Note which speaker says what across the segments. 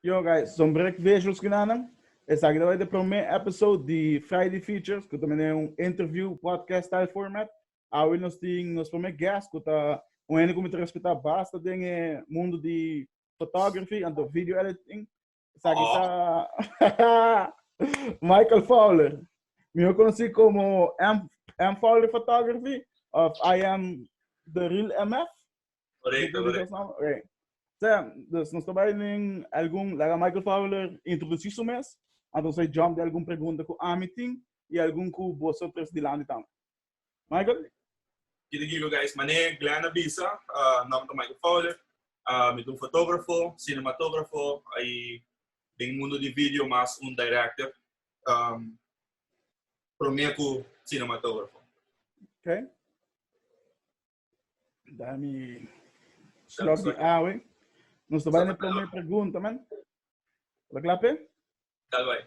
Speaker 1: Yo guys, son brek visuals cu na nan. Esaki ta bay ta e prome episode di Friday Features cu ta mene un interview podcast style format. Awe nos tin nos prome guest cu ta un hende cu mi ta respeta basta den e mundo di photography anto video editing. Esaki ta Michael Fowler, mihor conoci como M. Fowler Photography of I am the real MF. Correcto,
Speaker 2: correcto.
Speaker 1: Okay. Sea, dus nos ta bai nin algun, laga Michael Fowler introduci su mes, anto sa jump de algun pregunta ku ami tin i algun ku boso tres dilanti tambe. Michael? Kiri
Speaker 2: giba guys, mane Glenn a bisa, uh, nom ta Michael Fowler, uh, mi ta un fotografo, cinematografo, i den mundo di video mas un director, um, prome ku cinematografo. Okay.
Speaker 1: Dami klok di awe. Nos ta bai na primer pregunta, man. Lo klape? Tal bai.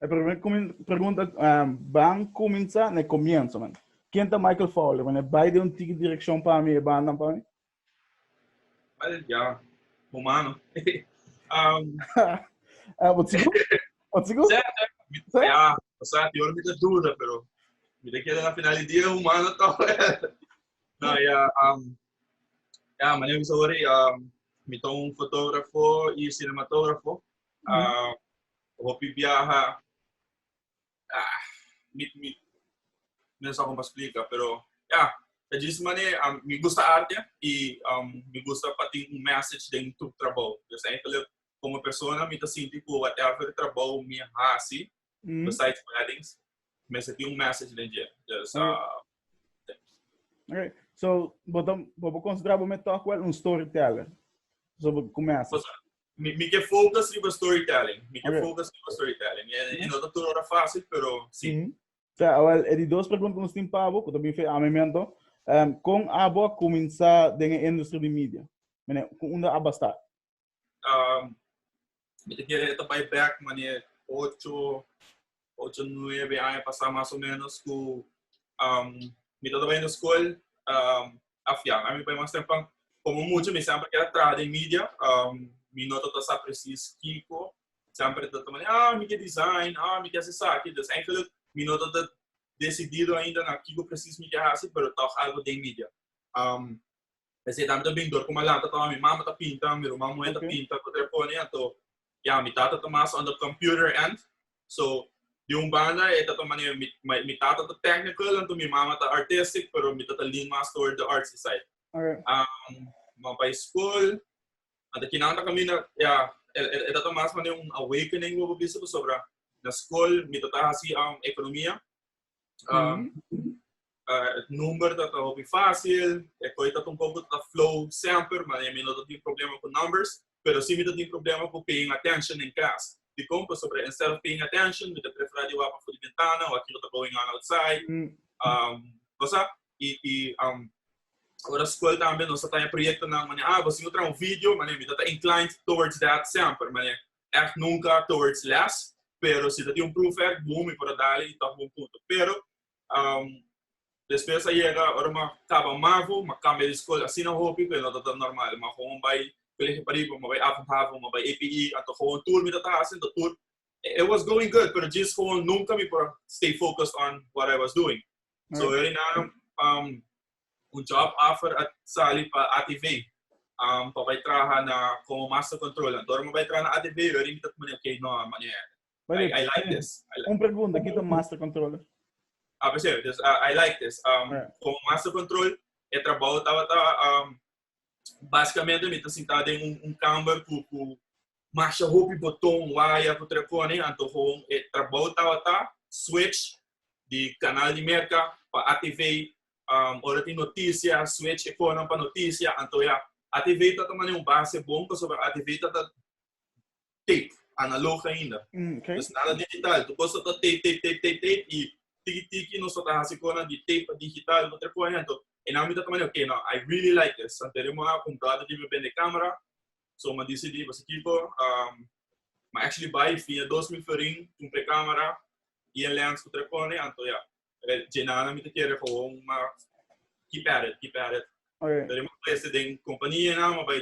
Speaker 2: E primer
Speaker 1: pregunta uh, ban kuminsa na komienso, man. Ken ta Michael Fowler, man? E bai de un tiki direkshon pa mi, e bandan pa mi?
Speaker 2: Well, ja, humano. um,
Speaker 1: uh, but sigur, Wat sigu? Sete,
Speaker 2: Sete? ya, o sea, ti ora mi ta duda, pero mi ta keda na final di dia humano to. no, ya, um, ya, mane bisa ori, um, mi ta un fotógrafo y cinematógrafo. Um, hopi viaja, ah, mi, mi, mi no sa como explica, pero ya, ta dice mane, um, mi gusta arte y um, mi gusta patin un message den tu trabajo. Dus eigenlijk, como persona mi ta sinti cu whatever trabou mi a haci besides weddings mester tin un message
Speaker 1: den dje. Dus uh, Okay. So, bo ta bo bo considera bo me talk well un storyteller. So, bo começa. Pues, mi, mi que
Speaker 2: focus riba storytelling. Mi que Okay. focus riba storytelling. E, e no ta todo hora fácil, pero sí. Mhm. So, awel, e di
Speaker 1: dos preguntas nos tin pa bo, que também foi a memento. Um, con abo a começar den a industria de media? Mene, con unda abo a start? Um,
Speaker 2: mi te kere ta bai back mane ocho, ocho, nueve aña pasa mas o menos ku um, mi ta bai na skol um, afia. A mi bai mas tempan, como mucho, mi sempre kere traha den media. Um, mi no ta sa precies kiko. Sempre ta ta mane, ah, mi ke design, ah, mi ke hasi saki. Dus eigenlijk, mi no ta ta decidido ainda na kiko precies mi ke hasi, pero toch algo den media. Um, P'esei ta mi ta bin dor ku mi a lanta tawba mi mama ta pinta, mi ruman muhé ta pinta ku ta pone. Anto ya mi tata ta mas on the computer end. So di un banda e ta ta manera mi mi tata ta technical anto mi mama ta artistic pero mi ta ta lean mas toward the artsy side. Um
Speaker 1: mi
Speaker 2: bai skol a ta kinan ta kaminda ya e e ta ta mas manera un awakening ku mi a bisa pasobra na skol mi ta ta hasi um ekonomia Um, uh, number dat a hopi fácil, e koi dat un poco dat flow sempre, maar e mi no dat tin problema con numbers, pero si mi dat tin problema con paying attention in class. Di kon, pa sobre instead of paying attention, mi te prefera di wapa fu di ventana, o akilo ta going on outside. Mm. Um, bosa, i, i um, ora school tambe, nos ta proyecto na, mane, ah, bosi no trae un video, mane, mi dat inclined towards that sempre, mane, echt nunca towards less pero si ta tin un proef echt boom mi por a dale y ta bon punto pero um despues a yega ora mi a caba mavo mi a cambia di school asina hopi pe no ta tan normal mi a gewoon bay colegio pariba mi a bay avond havo mi a bay APE anto gewoon tur mi ta ta hasi anto tur it was going good pero djis gewoon nunca mi por a stay focused on what I was doing so e ora y nan um un job offer a sali pa ATV um, pa bai traha na como master controller. Anto ora mi bai traha na ATV, yu a rimita cu manera, ok, no, a manera, Wait, I, wait. I like this. I like, Un pregunta, ki ta
Speaker 1: master controller? ah, percebe? Dus,
Speaker 2: ah, I like this. Um, Yeah. Como master control, e trabajo tabata um, Básicamente mi ta sintá den un, un kamer ku, ku masha hopi botón, waya ku telefonenan. Antoho e trabou tabata switch di kanal di Merka pa ATV, um, ora tin notisia, switch e konan pa notisia. Anto ya, ATV ta ta manera un base bon pasobra ATV ta ta tape, analog ainda. Mm, okay. Pues nada digital. Tu cosa ta tape, tape, tape, tape, tape y tiki tiki nos ta hace cona di tape pa digital, no te por ejemplo. En a mitad también, okay, no, I really like this. Anterior mo a comprar de me vende cámara, so ma decidí pues equipo, um, ma actually buy fin de 2000 florin, compré cámara y el lens que te pone, anto ya. Jenana mi te quiere gewoon ma keep at it, keep at it. Okay. Pero mo pues den compañía na, ma by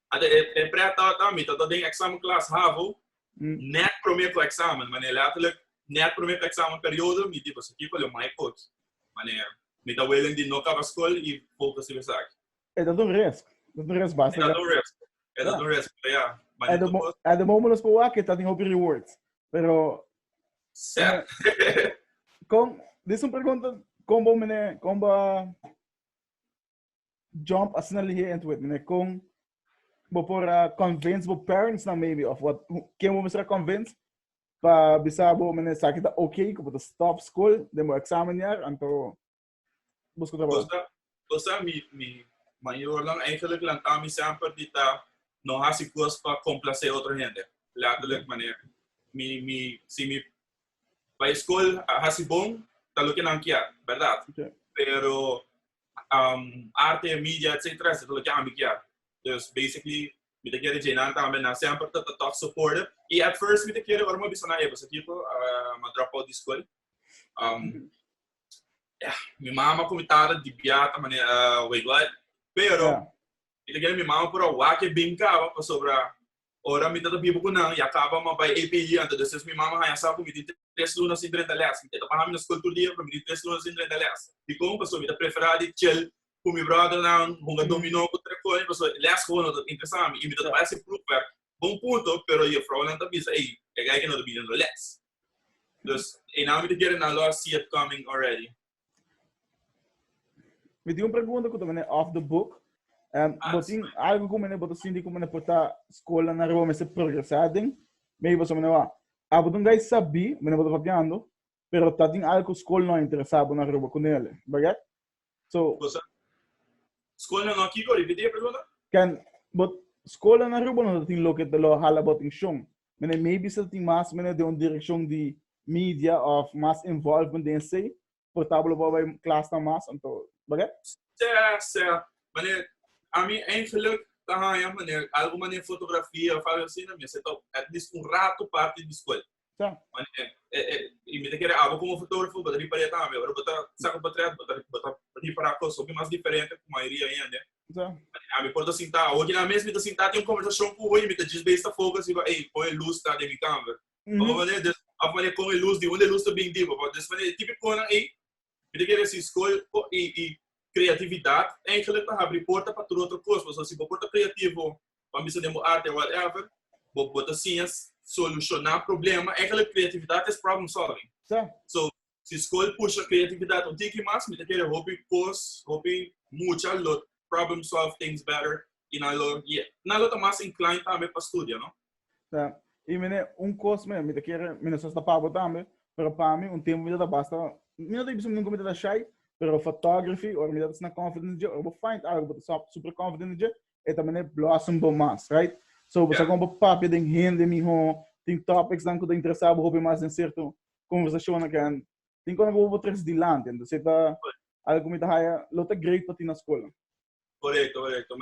Speaker 2: Ata e e prè taba ta mi ta ta den examen klas havo nèt promé to examen manera letterlijk nèt promé to examen periodo mi di boso kiko lo mai kort manera mi ta welen di no kaba skol i fokus riba esaki. E ta ta un resk
Speaker 1: ta ta un resk basta ta ta un resk e
Speaker 2: ta ta un resk pero ya manera tur kos. At the
Speaker 1: moment nos por wak ke ta den hopi rewards pero Sèt. kon dis un pregunta kon bo mene kon bo a. jump asina lihe en tu wet mene kon bo por a convince bo parents na maybe of what ken bo mesra convince pa bisa bo mene saki ta ok ku bo ta stop school den bo examen jaar anto busco trabajo Cosa, cosa mi,
Speaker 2: mi mayornan eigenlijk lanta mi semper di ta no hasi cos pa complace otro hende. Letterlijk mane, mi, mi, si mi pa e school a hasi bon, ta lo que nan kier, verdad? Okay. Pero um, arte, media, etc. Eso es lo que ami kier. Dus, basically, mi te quiere llenan tambe na semper te te toch supporten. Y at first mi te quiere ormo bisa na ebo, sakiko, uh, ma drop out di school. Um, yeah, mi mama con mi tata di biata manera, uh, way God. Pero, yeah. mi te quiere mi mama pura wake binkaba, pasobra, Ora mi ta ta biba ku nan, ya kaba ma bai AP di ante despues mi mama haña sa ku mi tin tres luna sin drenta lèsa. Mi e ta baha mi na skol tur dia pero mi tin tres luna sin drenta lèsa. Dikon paso? Mi ta preferá di chel ku mi bròdernan, hunga dominó ku trekoña paso lès gewoon no ta interesá mi i mi ta ta bai hasi proever bon punto pero jefrounan ta bisa ei, e gei ke no ta bini no lès. Dus einan mi ta kere nan lo a see it coming already.
Speaker 1: Mi tin un pregunta ku ta mene off the book. Um, ah, bo tin algo ku mene bo ta sinti ku mene pota skola na Rome se progresá den. Mi bo so mene wa. Abo dun gai sabi, mene bo ta papiando, pero ta tin algo skol no interesa bo na Aruba ku nele, bagat? So, Cosa?
Speaker 2: Skol no no kiko, repetir pregunta? Kan bo
Speaker 1: skola na Aruba no tin lo ke te lo hala bo atenshon. Mene maybe si ta tin mas mene den un direccion di media of mas involvement den esey por tabal lo wou bay klas nan mas anto bague? Sè, sè.
Speaker 2: Mane ami eingeluk ta hanja mane algo mane fotografia of algo asi nan mester ta at least un rato parti di skuel. Sè. Mane y mi ta kere abo komo fotografo bo ta riparia tambe. Ora bo ta saka potret bo ta bo ta ripara kos hopi mas diferente ku mayoria hende. Sa. Ami
Speaker 1: por ta sintá
Speaker 2: awo. Kila mes mi ta sintá tin un konversashon ku hoye mi ta djis besta fogo a si pa, ey, pon e lus ta den mi kamber. Papá Mané, des, papá Mané, kon e lus, di unda e lus ta bin di, papá? Des mané, e tipikonan ey, mi ta kere a si skohe po, i, i kreatividat eigelik ta habri porta pa tur otro kos. Pasobra si bo por ta kreativo, pa bisa den bo arte, whatever, bo, bo ta siña solushoná problema. Eigelik kreatividat es problem solving. Sa. So, si school pusha creatividad un tiki mas, mi ta kere hopi cos, hopi mucha lo problem solve things better y nan lo yeah, nan lo ta mas inclined tambe pa studia, no? Ta, y
Speaker 1: mi ne un cos me, mi ta kere, mi no sa si ta pa bo tambe, pero pa mi un tempo mi ta ta basta, mi no ta bisa nunca mi ta ta shy, pero photography ora mi ta ta asina confident dje, ora bo find algo bo ta super confident dje, e ta manera blossom bo mas, right? So bo sa Yeah. con bo papia den hende mihó, tin topics nan cu ta interesa bo hopi mas den certo conversacionnan ken tin cuando bo por tres dilanti entonces e ta algo cu mi ta haya lo ta great pa tin na school. Correcto, correcto.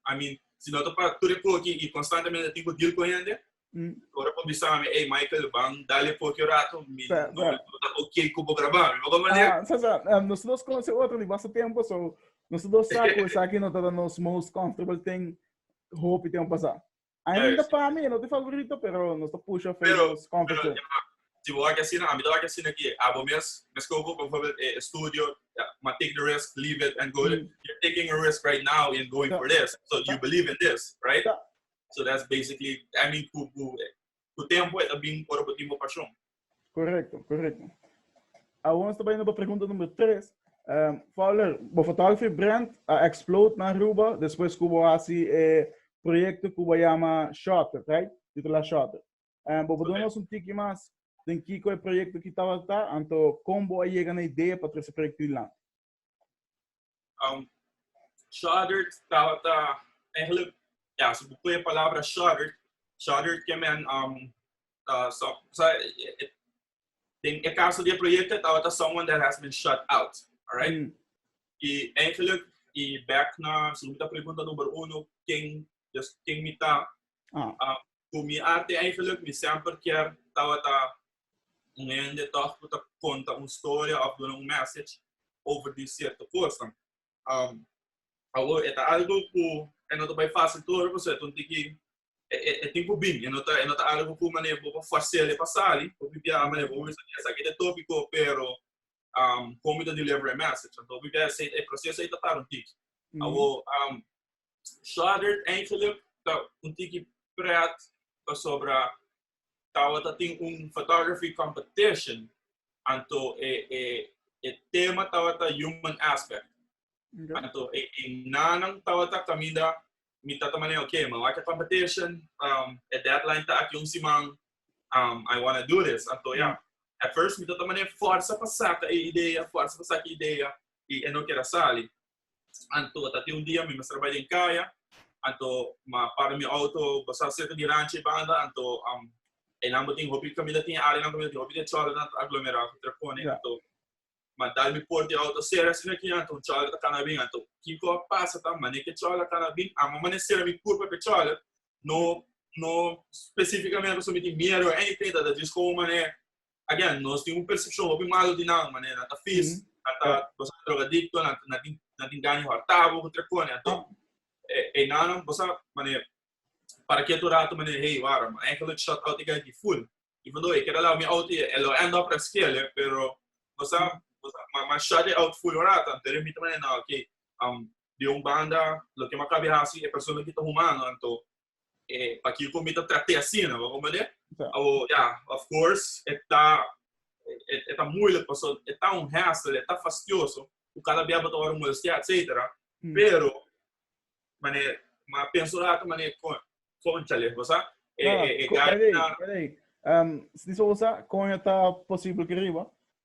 Speaker 2: I mean si no ta pa tur e foki y constantemente a tin cu deal cu hende, ora bo bisa mi ey Michael ban dal e foki un rato mi no ta ok cu bo graba mi, bo ta manera. Ah, sa sa, nos
Speaker 1: dos conoce otro di basta tempo so nos dos sa cu esaki no ta nos most comfortable tin hopi tempo pasa. Ainda para mí no te favorito, pero no está puxa famous competition. Si vos hace
Speaker 2: así, a mí te hace así aquí. Abo mes, mes que por ejemplo, eh, studio, ma take the risk, leave it and go. Mm. You're taking a risk right now in going so, for this. So you believe in this, right? So, so that's basically, I mean, who, who, Ku tempu e ta bin ora bo tin bo pashon. Korekto,
Speaker 1: korekto. Awor nos ta bai na bo pregunta number tres. Fowler, bo fotografi brand a explode na Aruba despues ku bo hasi e proyekto ku bo yama Shutter, right? Titulá Shutter. Bo por duna nos un tiki mas den kiko e proyekto ki tabata ta, anto kon bo a yega na idea pa trae se proyekto dilanti? Um,
Speaker 2: shuddered tabata eigenlijk, ja, ze boeken je palabra shuddered. Shuddered que men, um, uh, so, so, in el caso de proyecto tabata someone that has been shut out, alright? Mm. Y eigenlijk, y back na, si so, pregunta numero uno, ken, dus, ken mita, ah. uh, ku mi arte eigenlijk, mi semper kier tabata un hende tòg ku ta konta un storia òf duna un mèsech over di sierto kosa. Um, awor, e ta algo ku e no ta bai fásil tur, paso e ta un tiki e, e, e tin ku bin, e no ta, e no ta algo ku mané bo pa forsar e pa sali, bo pipia mané bo wisa di esaki te tópiko, pero um, kon mi ta deliver e message, anto pipia ese, e proseso ei ta tar un tiki. Awor, um, Shattered eigenlijk ta un tiki pret pasobra tabata tin un photography competition anto e e e tema tabata human aspect anto e e nanan tabata caminda mi tata manera ok mi wak e competition um, e deadline ta aki un siman um, I wanna do this anto ya yeah. at first mi tata manera forza pa saca e idea forza pa saca idea y e no kera sali Anto ta tin un dia mi mester bai den kaya, anto m'a para mi outo pasá serka di ranchi banda, anto einan bo tin hopi kaminda tin área nan kaminda tin hopi di e chòlere nan ta aglomerá ku trepone. Anto m'a dal mi por di e outo sera asina aki, anto un chòlere ta kana bin. Anto kiko a pasa ta manera ku e chòlere a kana bin, amo manera sera mi pur papia chòlere, no no spesífikamente pasobra mi tin miedu o anything, ta ta djis kon un manera again, nos tin un persepshon hopi malo di nan, manera nan ta fis, nan ta boso a drogadikto, nan ta, nan tin, nan tin gaña hòrtabo, ku tre kone. Anto, e, e nannan boso a, manera, para ketu rato, manera, hey, wara, mi a hèn k'alochi shòt out i gei aki ful. Even though e keda lou mi out i e lo end up reskele, pero nos a, nos a, mi a, mi a shòt e out ful un rato. Anto e lo mira manera, nah, okay, di un banda, loke mi a kabe hasi, e persona aki ta humano, anto, eh, pa kiko mi ta trate asina, no? Como de? Oh, yeah, of course, eta, et, eta moeilijk, paso eta un hassle, eta fastioso, u cada vez bota ora molestia, etcétera. Mm. Pero, mane, ma penso lato, mane, con, conchale, cosa? Ah, eh, eh, eh,
Speaker 1: gana... Um, se dice osa, coño está posible que arriba.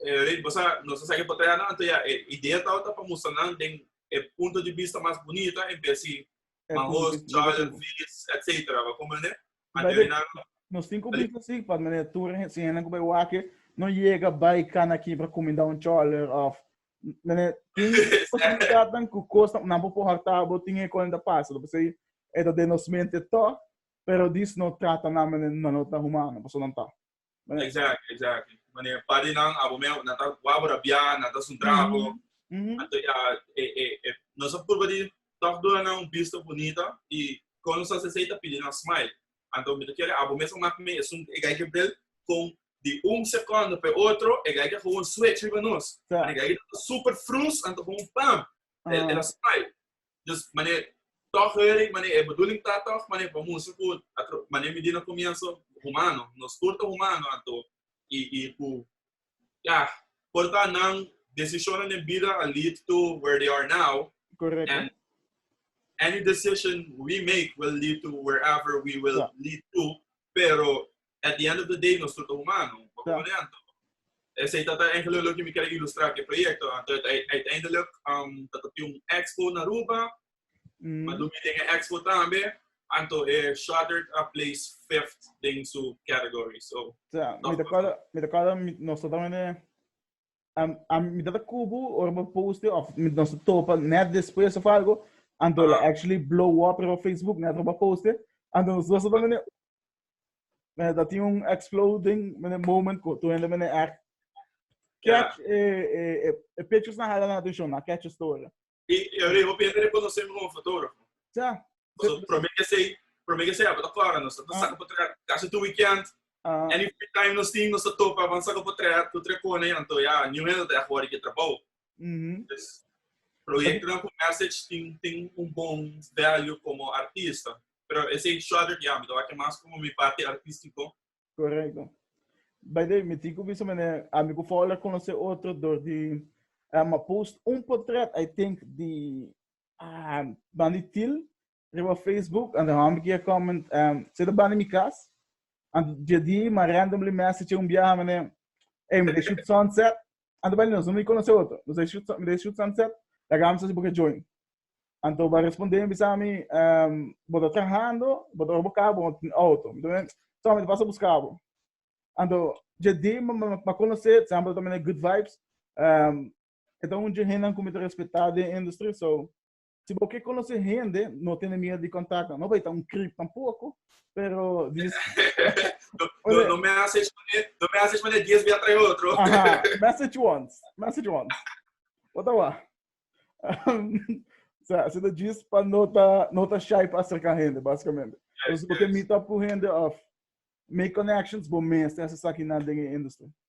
Speaker 2: Rey, bo sa, nos a sa ke por traha nan, anto ya e idea tabata pa mustra nan den e punto di bista mas bunita en bes di Mahoos, Charlotte, Phillies, etcetera. Bo a komprende? Anto ya minan. Nos tin ku
Speaker 1: bisa si, pa manera tur hende, si hende ku bai wak aki no yega bai kana aki pa kumindá un Charlotte of manera tin posibilidatnan ku kosnan nan por por hòrtá bo tin e kònen ta pasa lo pasei e ta den nos mente tò pero dis no trata nan manera nan lo ta humano pasobra nan ta. Right. Exactly,
Speaker 2: exactly. Wanneer een party dan, abo me, na ta wabra bia, na ta sun trago. Mm-hmm. Anto ja, e, e, e, no sa purba di toch dura na un vista bonita y con los asesei ta pidi na smile. Anto mi te quiere abo me sa mak me es un egai que bril con di un segundo pe otro egai que gewoon switch riba nos. Yeah. Egai que ta super frus anto gewoon pam. El, el a smile. Dus manera tòg hurry manera e bedoeling ta tòg manera pa mustra ku manera mi di na komienso humano nos tur ta humano anto i i ku ya por ta nan desishonnan den bida a lead to where they are now and any decision we make will lead to wherever we will lead to pero at the end of the day nos tur ta humano bo ta horen anto esei ta ta engelui loke mi kere ilustra ke proyekto anto uiteindelik um ta ta tin un expo na aruba ma lo mi den e expo tambe anto e shutter a place fifth den su category so mi ta kòrda mi
Speaker 1: ta kòrda nos ta tambe den um, um, mi dat kubu or mi poste of mi nos topa net despues of algo and uh -huh. actually blow up op Facebook net op poste and nos was dan mene mene dat tin un exploding mene moment ko to ende mene echt catch yeah. e e e pictures na hala na atención na catch story Y ahora hopi
Speaker 2: hende reconoce mi como fotógrafo. Ja. Entonces,
Speaker 1: prome que
Speaker 2: sei, prome que sei, apa ta cora, nos ta saca potret casi tu weekend. Uh-huh. Any free time nos tin, nos ta topa, van saca potret, tu trecone, anto ya, new hende ta echt wari que trabao. Mm-hmm. Dus, project dan con message tin, tin un bon value como artista. Pero ese shorter, ja, mi ta waki mas como mi parte artístico. Correcto.
Speaker 1: By the way, mi tin cu bisa mene, ami cu Fowler conoce otro door di um, post un portret, I think, di uh, Bandi Til riba Facebook, and dan kia comment, um, se de Bandi mi cas, and jadi ma randomly message un biaha mene, hey, mene shoot sunset, Anto baile nos, no mi conoce otro. Nos a shoot, mi de shoot sunset, la gama si boke join. Anto ba responde mi bisa mi, um, bo ta trabajando, bo ta bo carro, bo tin auto. Mi también, so mi pasa busca bo. Anto, je di ma, ma, ma conoce, siempre también good vibes. Um, eta un je hennan ku mi ta respeta den industry, so Si bo ke konosé hende, no tene miedu di kontaknan. No bai ta un krip tampoko, pero di Ora- No message
Speaker 2: mané, no message mané dies bia trae otro. Aha, message
Speaker 1: once, message once. Wat awa? so, so ta djis pa no ta, no ta shy pa acerca hende, basicamente. Entonces, bo ke meet up cu hende of make connections, bo mester hacer esaki nan den e industry.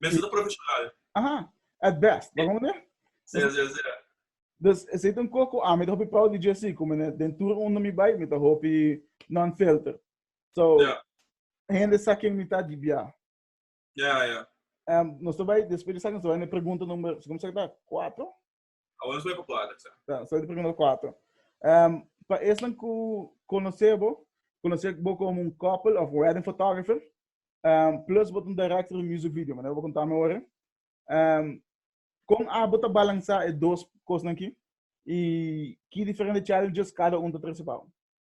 Speaker 2: Mester ta profesional. Aha, at
Speaker 1: best, ta konde? Sea, sea, sea. Dus esei ta un kos ku ami ta hopi proud di JC, ku mi den tur unda mi bai mi ta hopi non-filter. So, Ya. hende sa ken mi ta di bia. Ya, ya. Nos ta bai, despues di esaki nos ta bai na e pregunta number, su kum sa ta? Kuatro? Ahora nos voy
Speaker 2: por cuatro, sa. Sa, so primero
Speaker 1: cuatro. Um, pa esnan ku konosé bo, konosé bo como un couple of wedding photographer, um, plus bo un director de music video, maneira bo contame ora. Um, kon abo ta balansa e dos kosnan ki? I ki diferente challenges cada un ta trese pao?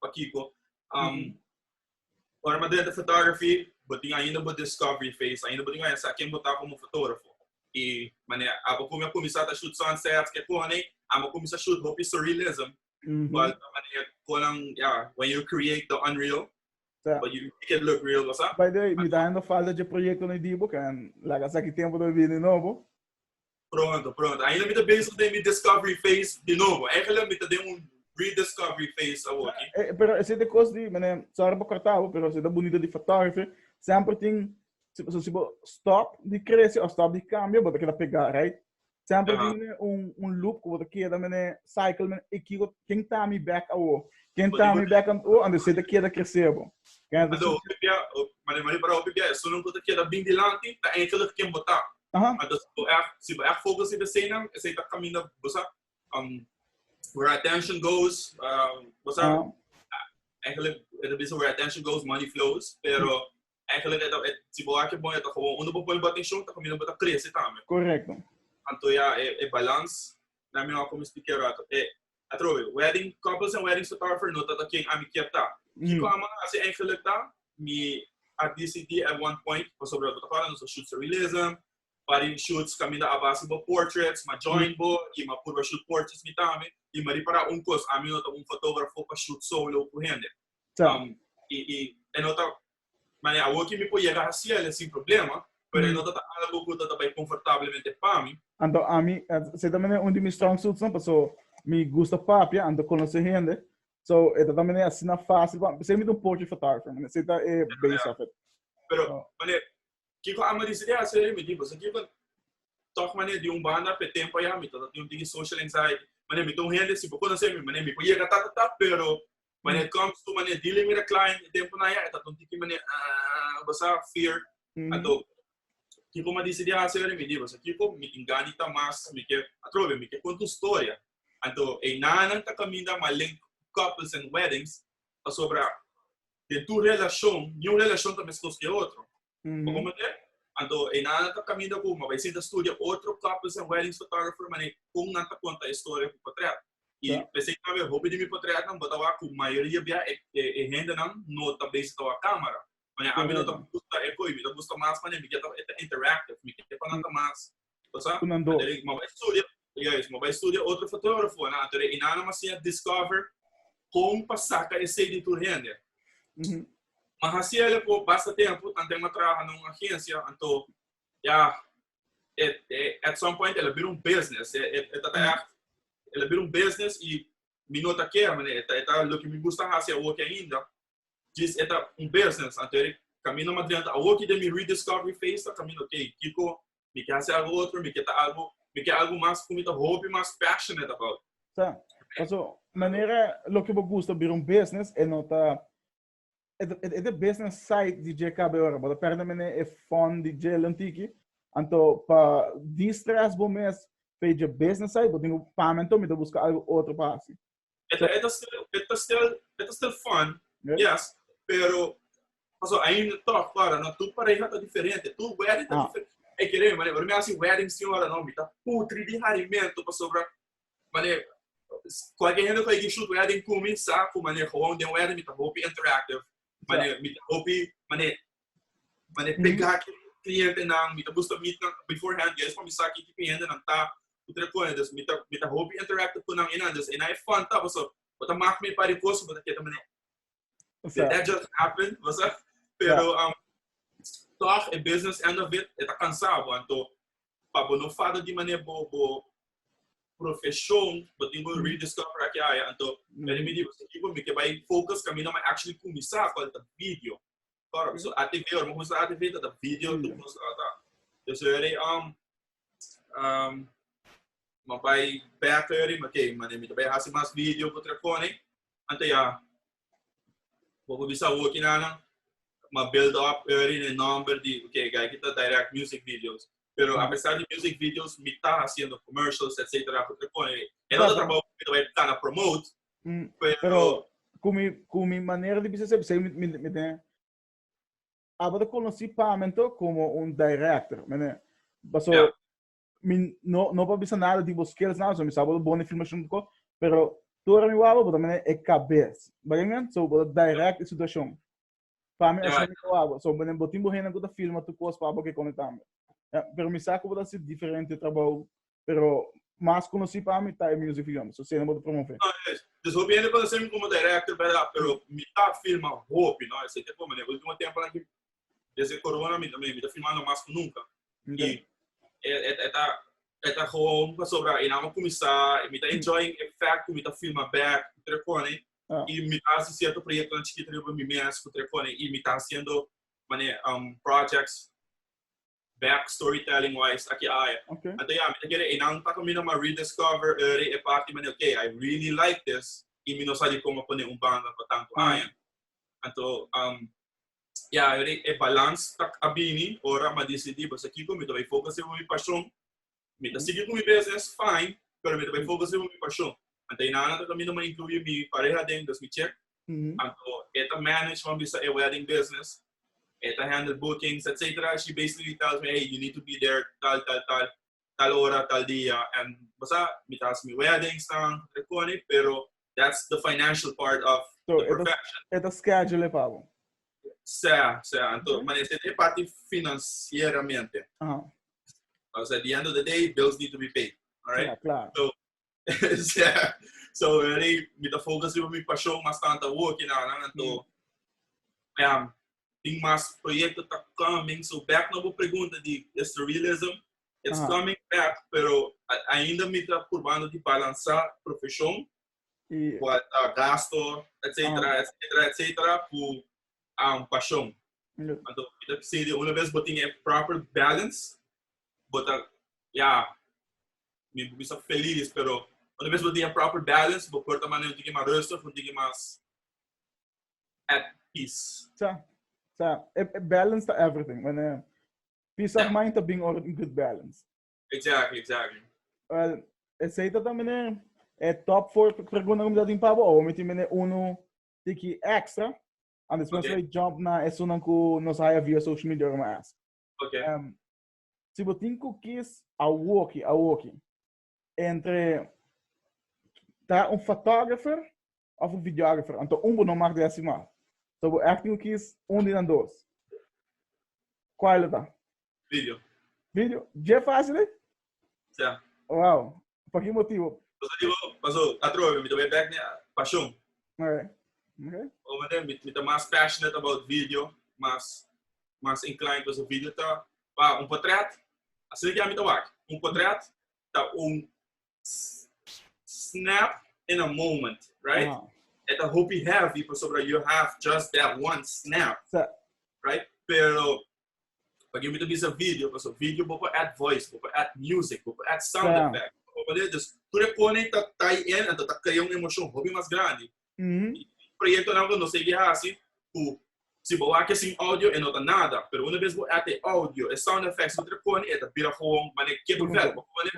Speaker 2: pakiko. Um, mm. Ora ma dente photography, botin ainda bo discovery phase, ainda botin ainda sa ken bota como fotógrafo. E mané, abo kumi a kumisa ta shoot sunsets, ke kone, amo kumisa shoot hopi surrealism. Mm -hmm. But mané, konan, yeah, when you create the unreal, Tá. But you make it look real, what's up? By the way, me tá ainda
Speaker 1: falta de projeto no Dibo, que laga sa que tempo do vini novo. Pronto,
Speaker 2: pronto. Ainda mi ta bezig den mi discovery phase di novo. Eigenlijk mi ta den un rediscovery phase awor aquí. Eh, eh, pero ese de cos di,
Speaker 1: meneer, sorry pa corta bo, pero ese ta bonito di photography. Semper tin, si, so, si bo stop di crece o stop di cambio, bo ta keda pega, right? Semper tin uh -huh. un, un loop ku bo ta keda, meneer, cycle, meneer, e kigo, ken ta mi back awor? Ken ta mi back awor? Ando se ta keda crece bo. Ken ta... Ando, pipia,
Speaker 2: mane, mane, para pipia, eso nun ko ta keda bin dilanti, ta eigenlijk ken bo ta. Aha. Entonces, si bo echt, si bo echt focus in desenan, esei ta camina, bo sa, um, where attention goes, um, bo sa, Aha. eigenlijk, het is where attention goes, money flows, pero eigenlijk, het, het, si bo hace bon, het gewoon, uno bo pone bo atención, ta camina bo ta crece también. Correcto.
Speaker 1: Anto ya, e,
Speaker 2: e balans, na mi wou como explicar rato, e, Atrobe, wedding, koppels en weddings total vernota ta ken ami kier ta. Kiko a manga hasi engeluk ta? Mi a disidi at one point, pasobra bo ta para nos a shoot surrealism, parin shoots kaminda a base bo portraits, m'a join bo i m'a purba shoot portraits mi tambe. I m'a repará un kos, ami no ta un fotógrafo pa shoot solo ku hende. Sa. I, i e no ta Mane, awor ki mi por yega hasiéle sin problema, pero e no ta ta algu ku ta ta bai konfortablemente pa mi. Anto ami,
Speaker 1: se ta mene un di mi strong suitsnan, paso mi gusta papia, anto konosé hende, so e ta ta mene asina fásil pa mi. Sey mi ta un portrait photographer, mane, sey ta e base of it. Pero, mane,
Speaker 2: kiko amo di sigi hasi ei? Mi di, paso kiko, tòg mane, di un banda p'e tempu ayá mi ta ta tin un tiki social anxiety. Mane, mi ta un hende, si bo konosé mi, mane, mi por yega ta ta ta, pero When it comes to mane dealing with a client, e tempo na ya, e ta un tiki mane, ah, basa fear. Mm. Ato, kiko ma disi di hasi wele mi di, basa kiko mi ingani ta mas, mi ke, atrobe, mi ke konta un storia. Anto, e nanan ta kaminda ma link couples and weddings, pasobra den tur relashon, ni un relashon ta mes kos ku e otro. Bo como te? Anto e nan a ta caminda cu ma bay sinta studia otro couples and weddings photographer mane con nan ta conta e story cu potret. Y yeah. pese que tawe hopi di mi potret nan bo ta wa cu mayoria bia e, e, e hende nan no ta bezig ta wa camera. Mane a mi no ta gusta e coi, mi ta gusta mas mane mi ke ta, ta interactive, mi ke pa nan ta mas Osa? Ku nan do. Anto e maba e studia, ya es, maba e studia otro fotógrafo nan, anto e Inana masi a discover kon pa saka esei di tur hende. Mhm. Ma hasi el e po basta tempu, tantu e m'a traha na un agensia, anto, ya, e, e, at some point el a bira un business, e, e, e ta ta ègt, el a bira un business i mi no ta kera, mané, e ta, e ta loke mi gusta hasi awoki ainda, djis e ta un business, anto e, kaminda madrianta, awoki den mi rediscovery phase ta kaminda, ok, kiko mi ke hasi algu otro, mi ke ta algu, mi ke algu mas ku mi ta hopi mas passionate about. Ta,
Speaker 1: paso manera loke bo gusta bira un business e no ta e ta e ta business side di dje kabe ora bo ta perde mene e fun di dje lantiki anto pa distress bo mes p'e dje business side bo tin ku pa'mento mi ta buska algu otro pa hasi E ta, e ta stel, e ta stel,
Speaker 2: e ta stel fun, Yeah. yes, pero paso aí no toc para, no tu pareja tá diferente, tu wedding tá Ah. diferente. É que nem, mané, me assim wedding senhora não, me tá putri de harimento para sobra, mané, qualquer gente que aqui shoot wedding comigo sabe, mané, gewoon de wedding me tá hopi interactive, Mane, mi ta hopi, mane, mane mm-hmm. pega ki cliente nan, mi ta busta meet nan beforehand, juist pa mi sa ki cliente nan ta, utre kone, dus mi ta, mi ta hopi interactive ku nan inan, dus ina e fun ta, paso, wata mak mi pari koso, wata keta mane, did that just happen, wasa? Pero, um, toch, e business end of it, e ta cansado, anto, pa bo no fada di mané bo bo profeshon bo tin ku rediscover aki aya anto meri mi di bo sigi por mi ke bai focus kaminda mi actually kuminsá kual ta video kòrò so atv ora mi kuminsá atv ta ta video tur kos ta ta yo so yari um mi bai bek yari mi ke mané mi ta bai hasi mas video ku telefòn ei anto ya Bo por bisa hoki nanan, ma build up already den nomber di, ok, gai kita direct music videos. Pero a pesar di music videos, mi ta haciendo commercials, et cetera, cu trepon ei. E no ta trabao cu mi ta bai plana promote, pero.
Speaker 1: Cu mi, cu mi manera di bisa esei, mi, mi, mi den, abo ta conoci pamen to como un director, me nen. Paso. Yeah. mi no no pa bisa nada di bo skills nada so mi sa bo bon e filmashon di ko pero tora mi waba bo ta mene e kabes bagay men so bo direct e situashon pa mi asina mi ta waba so mene bo tin bo hende ku ta filma tur kos pa bo ke kone tambe ya pero mi sa ku bo ta hasi diferente trabou pero mas konosi pa mi ta e music video mi so asina bo ta promove No, es, dus hopi hende
Speaker 2: konosemi komo director, bera, pero mi ta filma hopi, no? Esei ke por mane, ultimo temponan ki Desde corona mi también, mi ta firmando mas cu nunca. Y e, e, e ta, e ta gewoon pasobra y na mo comenzar, mi ta enjoying e fact cu mi ta firma back cu Trecone Ah. y mi ta haci cierto proyecto na chiquito riba mi mes cu Trecone y mi ta haciendo mane um, projects back storytelling wise aki aja. Okay. Ante ya, mi te kere enan ta camino ma rediscover eri e party mane, okay, I really like this, y mi no sa di como pone un banda pa tanto mm. aña. Anto, um, ya, eri e balans tak abini, ora ma decidi, pues aquí con mi te voy focus en mi pasión, Mi ta sigui cu mi beza en Spain, pero mi ta bay foca sima mi pasion. Anto e nana ta caminda ma incluyi mi pareha den Gus mi Check. Anto e ta manage pa mi sa e wedding business. E ta handle bookings, etc. She basically tells me, hey, you need to be there tal, tal, tal, tal ora, tal dia. And bo sa, mi ta haci mi weddings nan, ta cona, pero That's the financial part of so, the perfection. E ta schedule e
Speaker 1: pago. Sea,
Speaker 2: sea. Anto, maar is e parte financieramente. Uh-huh. Because at the end of the day, bills need to be paid. All right? Yeah, claro.
Speaker 1: So, yeah.
Speaker 2: So, really, mi ta focus on mi passion mas tanto work, you know, anto, mm. um, tem mais projeto tá coming. So back na boa pergunta de surrealism, It's Aha. coming back, pero a- ainda mi ta probando di balansa profesion, Y, kua ta gasto, etcetera, Ah. etcetera, etcetera, ku um, pasion. lo, Anto, mi ta bisei di una bes bo tin e proper balance, bo ta, ya, mi bo bisa felis, pero una bes bo tin e proper balance, bo por ta manera un tiki mas rustig, un tiki mas at peace. sa, sa, e,
Speaker 1: e balance ta everything, manera. Peace of mind ta bin ora tin good balance. Exactly, exactly.
Speaker 2: Well,
Speaker 1: esei ta también e top 4 pregunta ku mi ta tin pa bo. Awo mi tin bine uno tiki extra. And después okay. we jump na esunan ku nos haya via social media ora ask. Okay. Um, si bo tin ku kis awoki, awoki. Entre ta un photographer of un videographer, anto un bo no mag deci ma. So bo acting cu kies un di nan dos. Cual lo ta? Video. Video? Dje facil ey? Sia.
Speaker 2: Wow.
Speaker 1: Pa ki motibo? Paso dibo, paso
Speaker 2: atrobe mi ta bay bek na pasion. Ok. Ok. Omo
Speaker 1: manera
Speaker 2: mi ta mas passionate about video, mas mas inclined paso video ta Pa un potrèt, asina ki ami ta wak, un potrèt ta un snap in a moment, right? Aha. E ta hopi heavy pasobra you have just that one snap, Sa- right? Pero pa ki mi ta bisa video, paso video bo por add voice, bo por add music, bo por add sound Sa. effect. Bo por leren, dus tur e konen ta tie in, ento ta krea un emosyon hopi mas grandi. Y tin proyectonan cu nos segui haci cu si bo wak e sin audio e no ta nada, pero una bes bo add e audio, e sound effects bo tra pone e ta bira gewoon manera ke papel bo pone.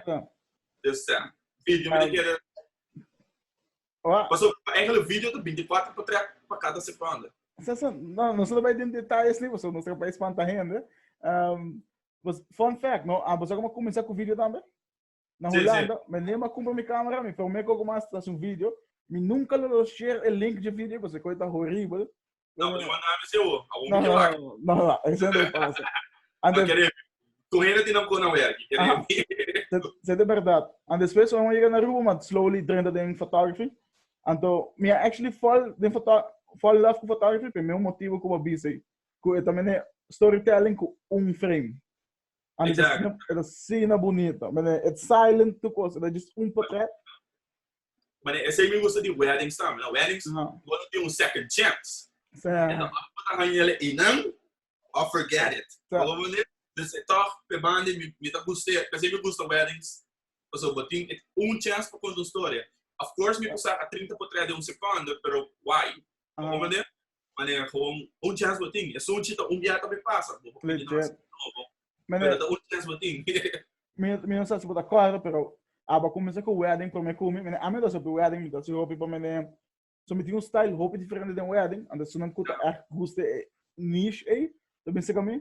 Speaker 2: Just sa. Video mi ta kere. Pasobra pa Engelen video ta binticuater pa trèk pa cada seconde. Sa sa, no, nos
Speaker 1: no ta bai den detaye asina pasobra nos ta bai spanta hende. Fun fact, no, boso tabata cuminsa cu video tambe? Na Holanda, sí, sí. mi nema kumpra mi kamera, mi promé koko mas ta su video, mi nunka lo lo share e link dje video paske koe ta horibel. No, pues manda a
Speaker 2: mi se o, a un mi ke wak. No, no, eso
Speaker 1: no pasa. Antes, Kere, con hende
Speaker 2: tinan con a werki, kere. Aha, se, se
Speaker 1: de verdad. And después, wan llega na Aruba, man slowly drenta den photography. Anto, mi a actually fall den foto, fall in love ku photography, pe meu motivo ku ba busy, ku e tamene storytelling ku un frame. Exact. Eta sina bunita. Mane, et silent tu cos, eta just un patet.
Speaker 2: Mane, esei mi gusta di weddings tambe, no? Weddings, uh -huh. you wanna be un second chance. Sa. Eta bak pata hanyele inan, or forget it. Sa. Ogo mane, dus e toch, pe bande, mi, mi ta guste, esei mi gusta weddings. Paso, bo tin et un chance pa conta un storia. Of course, mi pusa a trinta potret de un secondo, pero why? Bo hopi manera, manera gewoon un chance bo tin. E sunchi ta un biaha ta por pasa. Bo por kuminan asina no bo. Pero ta un chance bo tin. Mi mi no
Speaker 1: sa si bo ta kòrda pero aba kuminsá ku wèding promé kumi. Mene ami ta hopi wèding, mi ta hasi hopi pa mene. So mi tin un style hopi diferente den wèding. Anto esunnan ku ta ègt gusta e niche ei ta binsaka mi.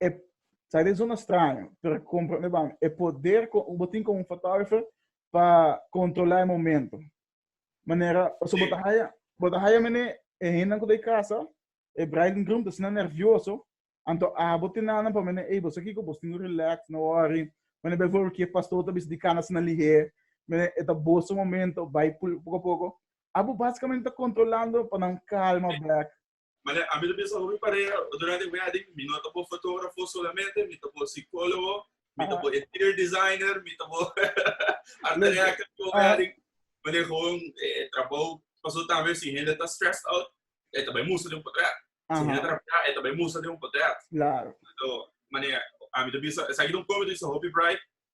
Speaker 1: e sa den zona straño pero comprende ban e poder cu bo tin como un fotógrafo pa controla e momento manera paso bo ta haya bo ta haya mene e hendenan cu ta e casa e bride and groom ta asina nervioso anto abo tin nan pa mene ey boso a kico boso tin cu relax no worry mene bijvoorbeeld ki e pastor ta bisti di cana asina lihe mene e ta boso momento bay poco a poco abo basicamente ta controlando pa nan calma back Mane, ami ta
Speaker 2: bisa, hopi parea, durante e wedding, mi no ta bo fotografo solamente, mi ta bo psicologo, mi ta bo interior designer, mi ta bo art director for wedding. Mane, gewoon, e trabou, paso tambe, si hende ta stressed out, e ta bai musa den un potret. Si hende ta rabia, e ta bai musa den un potret. Claro. So,
Speaker 1: mane,
Speaker 2: ami ta bisa, esaki ta un comedy, so hopi bright.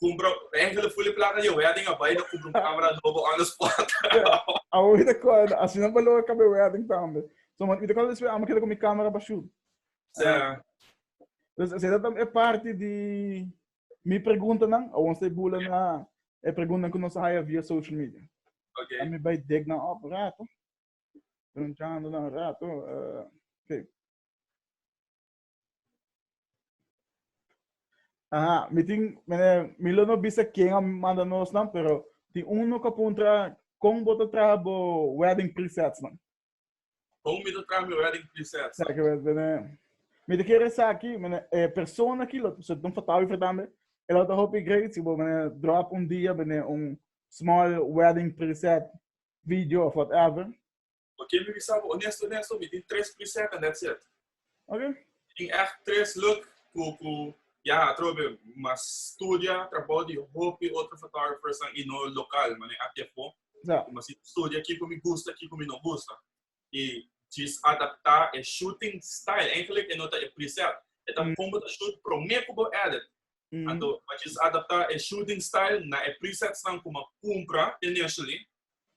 Speaker 2: Cumpra, enkel de fule plata je wedding a bai, no cumpra un camera nobo on the
Speaker 1: spot. Ja, a hoy de cual, así no pa logra cabe wedding tambe. So, man, ite cual después amo queda con mi camera pa shoot. Ja. Dus, así dat e parti di mi preguntanan, a ons te bula na e preguntanan cu nos haya via social media. Ok. A mi bai dek
Speaker 2: nan
Speaker 1: op rato, preguntando nan rato, uh, ok. Aha, mi tin, mi lo no bisa ken a manda nos nan, pero tin uno ka puntra kon bo ta traha bo wedding presets nan? Kon mi
Speaker 2: ta traha mi wedding presets nan? Saki bene,
Speaker 1: mi ta kere saki, bene, e persona ki lo, so tin un photographer tambe, e lo ta hopi great si bo bene drop un dia bene un small wedding preset video of whatever. Pa ke mi bisa
Speaker 2: bo, onesto onesto, mi tin tres preset and that's it. Okay. Mi
Speaker 1: tin echt
Speaker 2: tres look ku ku ya atrobe mas studia trabou di hopi otro photographers nan i no lokal, mane aki afo. Ja. Ku mas studia ki ku mi gusta, ki ku mi no gusta. I djis adaptá e shooting style. Eigenlijk e no ta e preset. E ta kon bo ta shoot promé ku bo edit. Anto bo djis adaptá e shooting style na e presetsnan ku bo a kumpra initially.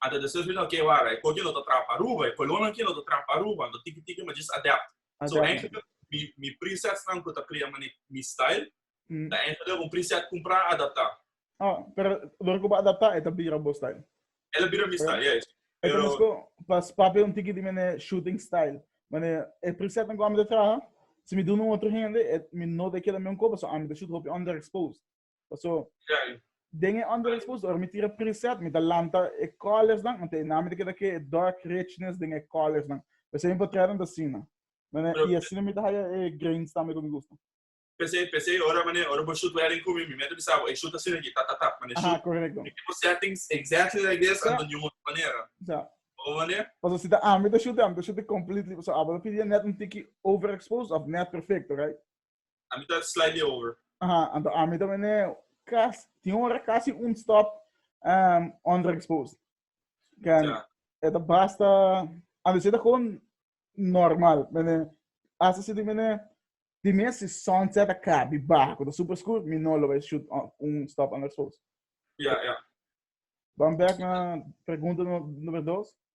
Speaker 2: Anta de surfing no ke wara, e koki no ta trap Aruba, e kolonnan kin no ta trap Aruba, anto tiki tiki mi a just adapt. So eindelijk mi mi presetsnan ku ta krea mane mi style ta eindelijk un preset kumpra adapta. Ah, pero
Speaker 1: dor ku bo adapta e ta bira bo style? El a bira mi style,
Speaker 2: ya esi. E ta mesko
Speaker 1: pas papia un tiki di mane shooting style, mane e presetnan ku ami ta traha, si mi duna un otro hende e mi no dei keda miun koba, so ami ta shoot hopi underexposed. Paso, den e under exposure mi tira preset, mi ta lanta e colors nan, anto e nami ta keda ke dark richness den e colors nan. P'esei mi potretnan ta asina. Pero- I asina mi ta haya e grains tambe ku mi gusta. P'esei, p'esei
Speaker 2: ora mane, ora bo shoot wedding ku mi, mi mester bisa bo, ey, shoot asina aki, tap, tap, tap, mane, Aha, shoot. korekto. Mi tipo settings exactly like this, Sa. anto niun otro manera. Sa. Bo mane?
Speaker 1: Paso si ta ami ta shute, ami ta shute completely. Paso abo ta pidia net un tiki over exposed of net perfecto, right? A mi ta
Speaker 2: slide e over. Aha, anto a mi también
Speaker 1: e cas, tin ora casi un stop um, underexposed. Can, yeah. eta basta, anto si ta con normal, mene, hasta si tin mene, di mia si sunset a cabi bajo, ta super scuro, mi no lo vai shoot on, un stop underexposed. Yeah, yeah. Vamos back na pregunta number dos.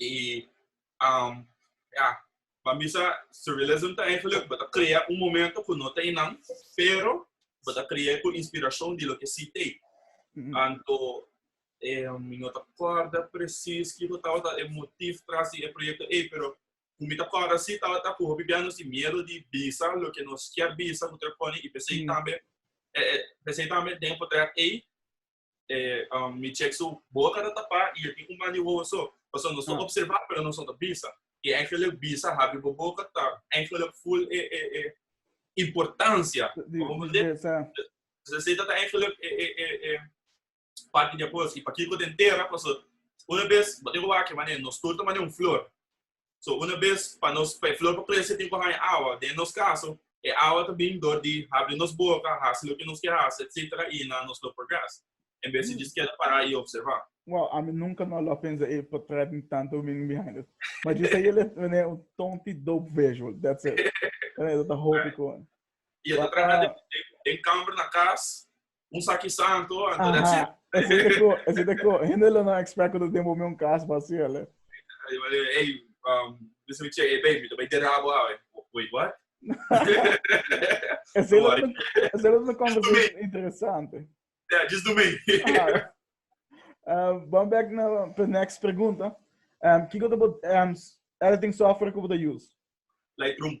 Speaker 2: E um, ya, pa mi sa surrealism ta eigenlijk, bo ta crea un momento cu no ta inan, pero bo ta crea cu inspiracion di lo que si te. Mm-hmm. Anto, eh, mi no ta corda precies que bo tawata e motief tras di e proyecto e, pero cu mi ta corda si tawata cu hopi bianos di miedo di bisa lo que nos kier bisa cu treponi y pesei mm. tambe, eh, eh, pesei tambe den portret e, eh, um, mi check su boca da tapa y el tin un mani huevo so. Paso nos no observa, pero nos no bisa. Y eigenlijk bisa habi bo boca ta eigenlijk full eh, eh, eh, importancia. Como de, se se ta eigenlijk eh, eh, eh, eh, parte de apoyo. Y pa kiko den terra, paso una vez, bote ko wake mane, nos turta mane un flor. So una bes pa nos, pa e flor por krese tin ku haña awa. Den nos kaso, e awa ta bin dor di habri nos boka, hasi loke nos ke hasi, etcetera i na nos lo progres, en bes di djis keda pará i opservá. Wow, ami nunka
Speaker 1: no lo a pensa e por trae tin tantu meaning behind it. Ma djis a yelen manera un tonti dope visual, that's it. Manera ta hopi ku. I a ta traha
Speaker 2: den kamber na kas, un saki santo, anto that's it. Ese te ko, ese te
Speaker 1: ko. Hende lo no expect ku ta den bo mi un kas basí, ale. Ey, um,
Speaker 2: bisa mi che, ey, baby, ta bay derabo awe.
Speaker 1: Wait, what? Ese lo na, ese lo na conversation interesante. Yeah, just do me.
Speaker 2: uh,
Speaker 1: bon back na next pregunta. Um, kiko te bo, um, editing software ku bo ta use? Lightroom.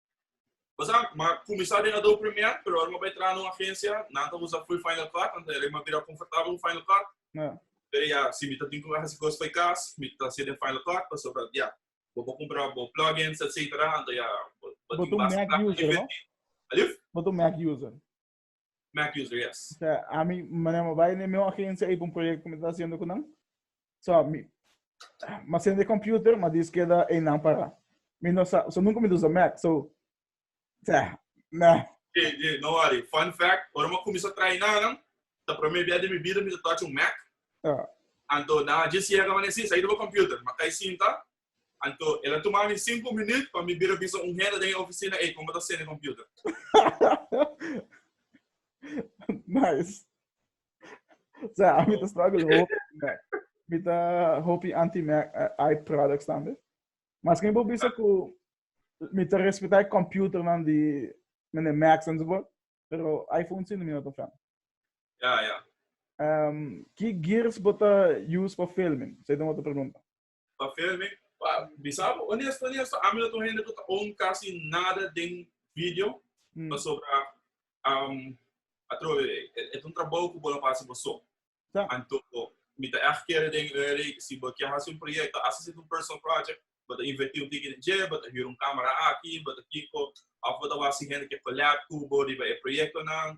Speaker 1: Bo sa,
Speaker 2: m'a kuminsá den Adobe Premiere, pero ora m'a bai traha na un agensia, nan ta usa full Final Cut, anto m'a bai bira komfortabel ku Final Cut. Pero ya, si mi ta tin ku hasi kos bai kas, mi ta hasié den Final Cut, pasobra ya, bo por kumpra bo plugins, etcétera, anto ya bo tin basta plata pa
Speaker 1: invertí. Alif? Bo ta un Mac user? Mac
Speaker 2: user, yes. O sea, a mi, mané
Speaker 1: mo bai ne meu agencia ei pa un proyecto mi ta haciendo con nan. So, mi, ma sende de computer, ma dis queda ei nan para. Mi no sa, so nunca mi usa Mac, so, o sea, nah.
Speaker 2: Yeah, yeah, no worry. Fun fact, ora mo comienza trae na nan, ta prome bia de mi vida mi ta touch un Mac. Yeah. Anto, na, just llega mané, sí, sa ido pa computer, ma kai sinta, Anto, el a tuma mi sinku minüt pa mi bira bisa un hende den e ofisina ei kon
Speaker 1: bo ta sende e kompüter. Nice. Sea, ami ta struggle hopi ku Mac. Mi ta hopi anti-Mac ai products tambe. Mas ke mi por bisa ku mi ta respetá e kompüternan di mene Macs enzovoort, pero iPhone si no mi no ta fan. Ya, ya. Ki gears bo ta use pa filming? Esei ta un otro pregunta. Pa fel me,
Speaker 2: pa bisa bo, honesto, honesto, ami no ta un hende ku ta own kasi nada den video, mm. pasobra um, atrobe, e, e un trabou ku bo lo hasi bo so. Ja. Anto, mi ta echt kere den Uri, si bo kier hasi un proyekto, hasi sit un personal project, bo ta inverti un tiki den je, bo ta huur un kamera aki, bo ta kiko, of bo ta wasi hende ke collab ku bo riba e proyekto nan,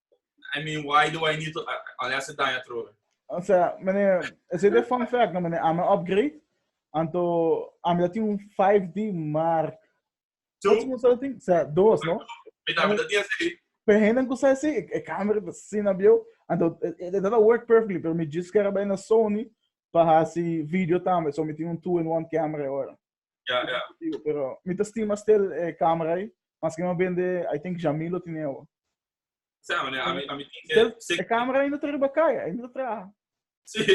Speaker 2: I mean, why do I need to uh, unless it daña trobe? O sea,
Speaker 1: meneer, is dit de fun fact, no meneer? Ame upgrade, anto ame dat un 5D, maar... Two? Wat moest dat ding? O sea, dos, no? Met ame dat ding así. Pe henden ku sai si, e camera ta sin na bio, anto dat work perfectly, pero mi just kara bai na Sony pa hasi video tambe, so mi tin un two-in-one camera ahora. Ya, ya. Digo,
Speaker 2: pero mi ta
Speaker 1: stima stel e eh, camera aí, mas que me vende, I think Jamilo tiene o. Sabe, né?
Speaker 2: A mi, a mi tem que... Stel, se... E camera
Speaker 1: ainda tá riba caia, ainda tá traha. Sim,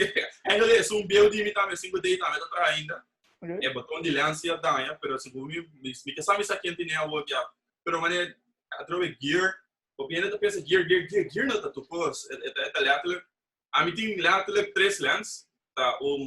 Speaker 2: ainda é, se um beu de mim também, se um deita, ainda tá ainda. Okay. É botão de lance e danha, pero se vumi, me que sabe isso aqui tem a o que pero mané, atrove gear, o bem ainda tá pensa gear, gear, gear, gear não tá tu pos, é tá é tá letterlijk, a mi tem letterlijk três lens, tá um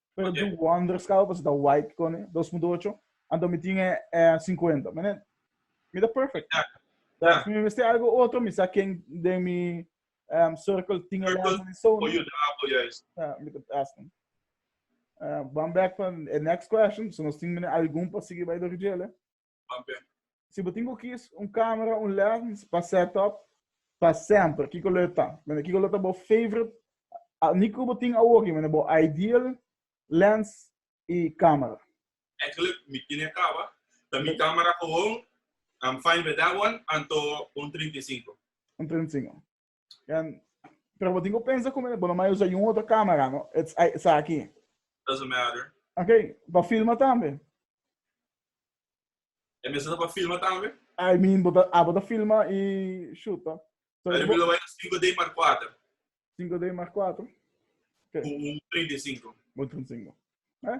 Speaker 1: Pero do wonders kaba pas da white kone 2008. Anto mi tin e, e 50. Mene, mi da perfect. Da, yeah. mi mesti algo otro, mi sa ken de mi um, circle tin e lens di Sony. Oyo da apo, yes. Yeah, mi da ask him. Uh, back pa e next question, so nos tin mene algun pa sigi bij de rugele. Amen. Si bo tin cu kis un camera, un lens pa set up pa semper, kico lo e ta? Mende, kico lo ta bo favorite, ni cu bo tin awoki, mende bo ideal lens y camera? Actually mi tin e caba, ta mi camera gewoon,
Speaker 2: I'm fine with that one, anto un trinta i sinku. Un trinta i sinku.
Speaker 1: En, pero bo tin ku pensa ku mi, bo no mai usa yun otro kamera, no? It's, ay, sa aki. Doesn't
Speaker 2: matter. Ok, pa filma
Speaker 1: tambe.
Speaker 2: E mesa ta pa filma tambe? I mean, bo ta,
Speaker 1: abo ta filma i shuta. So, Pero mi bo, lo bai na 5D Mark 4. 5D
Speaker 2: Mark 4, Ku un 35. bo tin
Speaker 1: singo. Eh?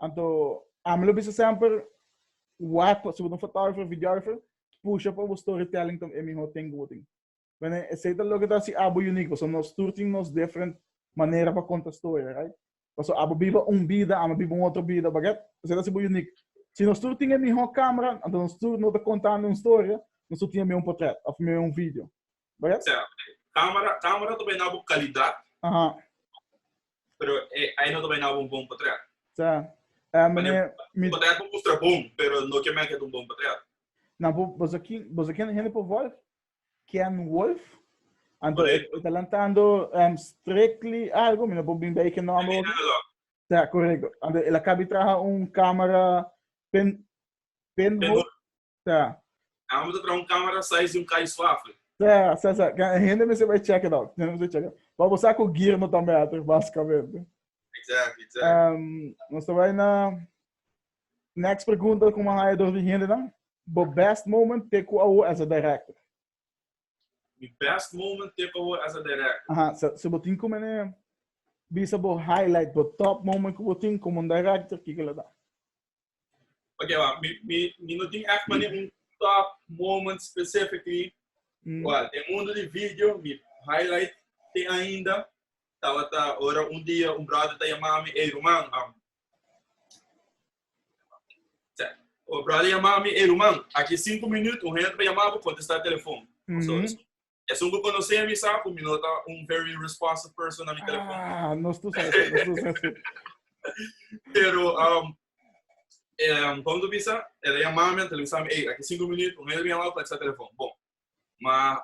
Speaker 1: Anto, ami lo bisa semper wat pa, si bo ta un fotógrafo o videógrafo, pusha pa bo storytelling ta e mihó ting ku bo tin. Bueno, esei ta loke ta hasi abo uniek, pasobra nos tur tin nos different manera pa konta storia, right? Pasobra abo biba un bida, ami a biba un otro bida, baget? Esei ta hasi bo uniek. Si nos tur tin e mihó camera, anto nos tur no ta kontando un storia, nos tur tin amé un potret òf amé un video. Oja? Sea, camera,
Speaker 2: camera ta bai na bo calidad. Aha.
Speaker 1: Pero
Speaker 2: e, ai no ta bai na bo un bon portret. Sea, eh,
Speaker 1: Pane, meneer,
Speaker 2: mi, portret bo mustra bon, pero no ke make het un bon portret. na, bo, boso
Speaker 1: kin, boso ken hende por Wolf? Ken Wolf? Anto, e, Correcto. e ta lantando em, strictly algo, mi no por bin bai ke nomber Maybe oki. na lo. Sea, correcto. Anto, el a kabi traha un camera pen, pen, Pen ho- ho- Sa. Amo mi
Speaker 2: ta traha un camera size di un kai suave. Sa, sa, sa. Can
Speaker 1: e hende mester bai check it out. Hende mester check it out. Pa bo sa cu gear no ta better, basicamente. Exactly,
Speaker 2: exactly. Um, nos
Speaker 1: ta bai na next pregunta como haya door di hende nan. Bo best moment te cu awo as a director?
Speaker 2: Mi best moment te cu awo as a director? Aha, so, so bo tin
Speaker 1: como ne bisa bo highlight, bo top moment cu bo tin como un director, kiko la da?
Speaker 2: Ok, wa, mi, mi, mi no tin echt mane un top moment specifically. Mm. Wa, den mundo di video, mi highlight te ainda. Tabata ora un dia un brother ta yama mi, hey Roman, um, o brother yama mi, hey Roman, aki cinco minut, un hende pa yama pa contestar telefon. Mm -hmm. so, Esun ku konosé mi sa ku mi no ta un very responsive person na mi telefòn. Ah, nos tu sa eso, nos tu sa eso. Pero, um, um, kon tu bisa, el a yamá mi, antel bisa mi, ey, aki sinku minut, un el yamá, plak sa telefòn. Bon, ma,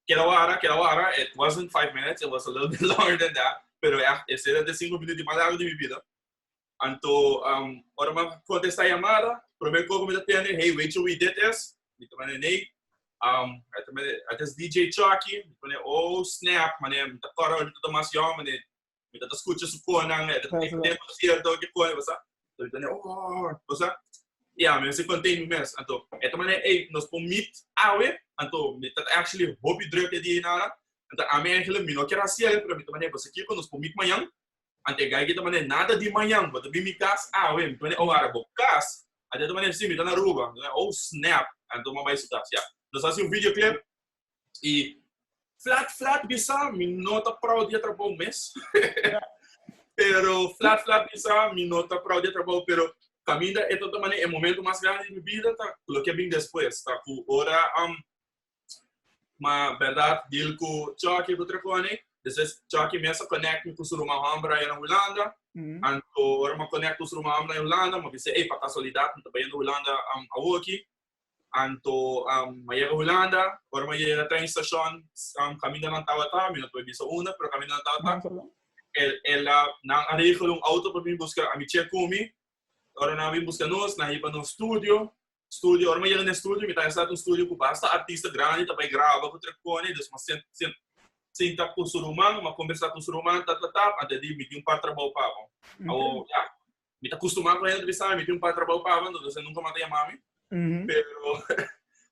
Speaker 2: keda wara, keda wara, it wasn't five minutes, it was a little bit longer than that, pero echt, e sera de sinku minut di mas largo di mi bida. Anto, um, ora ma contesta llamada, primer cosa mi ta tende, hey, weet je wie dit is? Mi ta mande, nee. Um, hij ta mande, het is DJ Chucky. Mi ta mande, oh, snap, mane, mi ta corre, mi ta tomas jou, mane, mi ta escucha su conan, het ta tende de concierto, que coe, wasa. So, mi ta mande, oh, wasa. Ja, mi se contain mes. Anto, het ta mande, hey, nos po meet awe, anto, mi ta actually hopi druk de die nana. Anto, a mi eigenlijk, mi no quiero hacer, pero mi ta mande, wasa, kiko, nos po meet mañana. Anto e gaiga ta manera, nada di mañan, bo ta bin mi cas awe, mi pone ora bo cas, anto e ta manera, si, mi ta na Aruba, oh snap, anto bo a bai su tas, ya, nos haci un video clip, y flat flat bisa mi no ta proud di e trabou mes, pero flat flat bisa mi no ta proud di e trabou, pero caminda e ta ta manera, e momento mas grandi di mi bida ta cu loke a bin despues, ta cu ora Ma berdad deal cu Chucky cu Trechonic. Despues Chucky mes a connect mi cu su ruman homber aya na Hulanda. Anto ora mi a connect cu su ruman homber aya na Hulanda mi a bisa ey pa casualidad mi ta bayendo Hulanda awoki. Anto mi a yega Hulanda, ora mi a yega train station caminda nan tabata, mi no ta bay bisa unda pero caminda nan tabata el a nan a regla un auto pa bin busca a mi checumi. Ora nan a bin busca nos nan a hiba nos studio. studio, ora mi yega den studio, mi ta instal un studio cu basta artista grandi ta bay graba cu Trepcone, dus mas sent, sent, sinta cu su ruman, ma conversa cu su ruman, ta, ta, ta, ante di mi tin un par trabao pa bo. Awo, ya, mi ta custuma cu hende bisa, mi tin un par trabao pa bo, entonces hende nunca mas ta yama mi. Pero,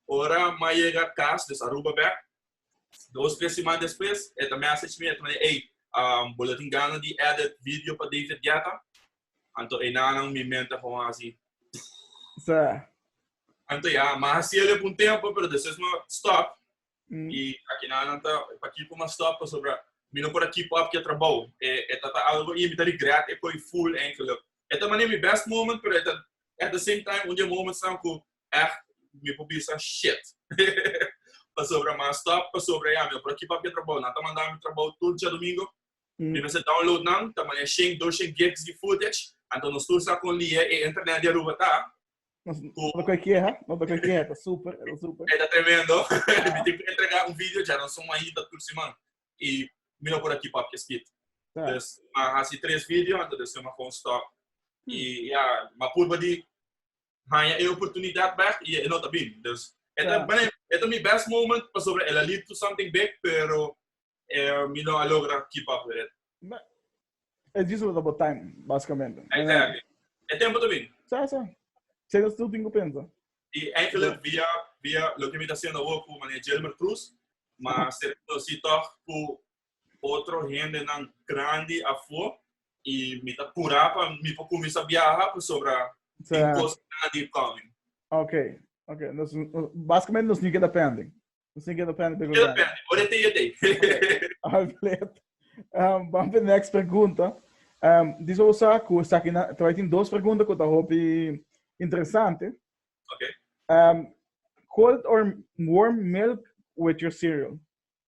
Speaker 2: ora ma yega cas, dus Aruba bek, dos, tres siman despues, e ta message mi, e ta manda, ey, um, bo lo tin gana di edit video pa David Guetta? Anto enanan mi mente a gewoon así. Sa. Anto ya, ma hasi ele por un tempo, pero después me stop. Mm. Y aquí na nanta, pa keep ma stop, pasobra mi no por keep up ke trabou. E, e tata algo y mi ta regret e koi full eigenlijk. E ta mane mi best moment, pero e ta, at the same time, un dia moments na ku echt mi por bisa shit. pasobra ma stop, pasobra ya, mi no por keep up ke trabou. Nanta manda mi trabou tur dia domingo, Mi mester download nan ta maya shen doshen gigs di footage anto no stuur sa kon lie e internet di Aruba ta. Ku.
Speaker 1: No ta koe keha, no ta koe keha, ta super, ta super. E ta tremendo.
Speaker 2: Mi tin ku entrega un video dja, nos son a hita tur siman i mi no por a keep up ki e speed. Ta. Dus mi a hasi tres video anto despues mi a kon stop i ya mi a purba di haya e oportunidad bek y e no ta bin. Dus e ta, bueno, e ta mi best moment pasobra el a lead to something big, pero eh, mi no a logra keep up with it.
Speaker 1: Es just about about time, basicamente. Exactly.
Speaker 2: E tempo ta bin. Sa, sa.
Speaker 1: Sa yo still tin ku pensa. Y enkele
Speaker 2: via, via lo que mi ta haciendo ahora ku mane Jelmer Cruz, ma ser si toch ku otro hendenan grandi afo y mi ta pura pa mi por cuminsa biaha pasobra tin cos grandi coming. Ok,
Speaker 1: ok. Nos, basicamente nos ni keda pending. Nos ni keda pending. Keda pending. Ora te
Speaker 2: yo te. Alfred, um,
Speaker 1: vamos para next pregunta. Um, dice o sa ku sa ki na, tawai tin dos pregunta ku ta hopi interesante. Ok.
Speaker 2: Um,
Speaker 1: cold or warm milk with your cereal.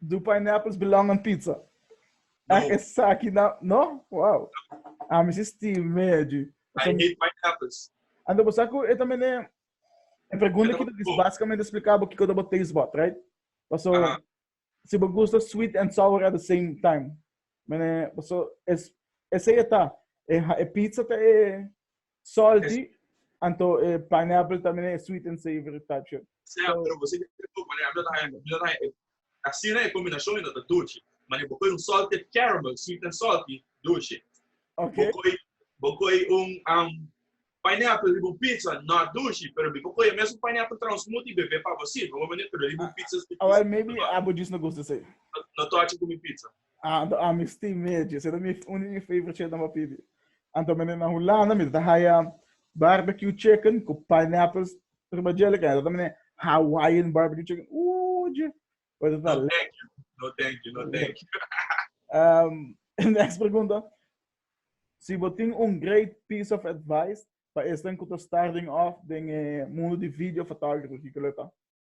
Speaker 1: Do pineapples belong on pizza? No. Ah, esaki na... No? Wow. Ah, mi si stil meji. I hate pineapples.
Speaker 2: Ando bo sa ku e
Speaker 1: ta mene... E pregunta ki ta dis basikamente explika bo kiko ta bo taste bud, right? Paso, uh -huh. si bo gusta sweet and sour at the same time. Mene, paso, es, esei e ta. E, e pizza ta e, Salty, anto e pineapple ta mira e sweet and savory touch op. Sea, pero bo sigue te tupa lei. A mi no ta
Speaker 2: haña, mi no ta haña e, ta asina e combinacion y no ta dulce. Ma den bo coy un salted caramel, sweet and salty, dulce. Ok. Bo coy,
Speaker 1: bo coy
Speaker 2: un, um, pineapple riba un pizza, not dulce, pero mi por coy e mesun pineapple tra un smoothie y bebe pa bo si, no bo mania, pero riba un pizza, si, pizza, Awor, maybe no, abo
Speaker 1: just no gusta esey. no, no touch it cu mi
Speaker 2: pizza. Ah, do ami sti
Speaker 1: medio. Se mi uni mi favorite chef na pa pidi. Anto mene na Hulanda mi ta haya barbecue chicken ku pineapples riba jelly kan. Ata mene Hawaiian barbecue chicken. Ooh, je. But ta no, thank you.
Speaker 2: No, thank you. No, thank you. um, next pregunta.
Speaker 1: Si bo tin un great piece of advice pa estan ku ta starting off den e mundo di video photography, kiko leta?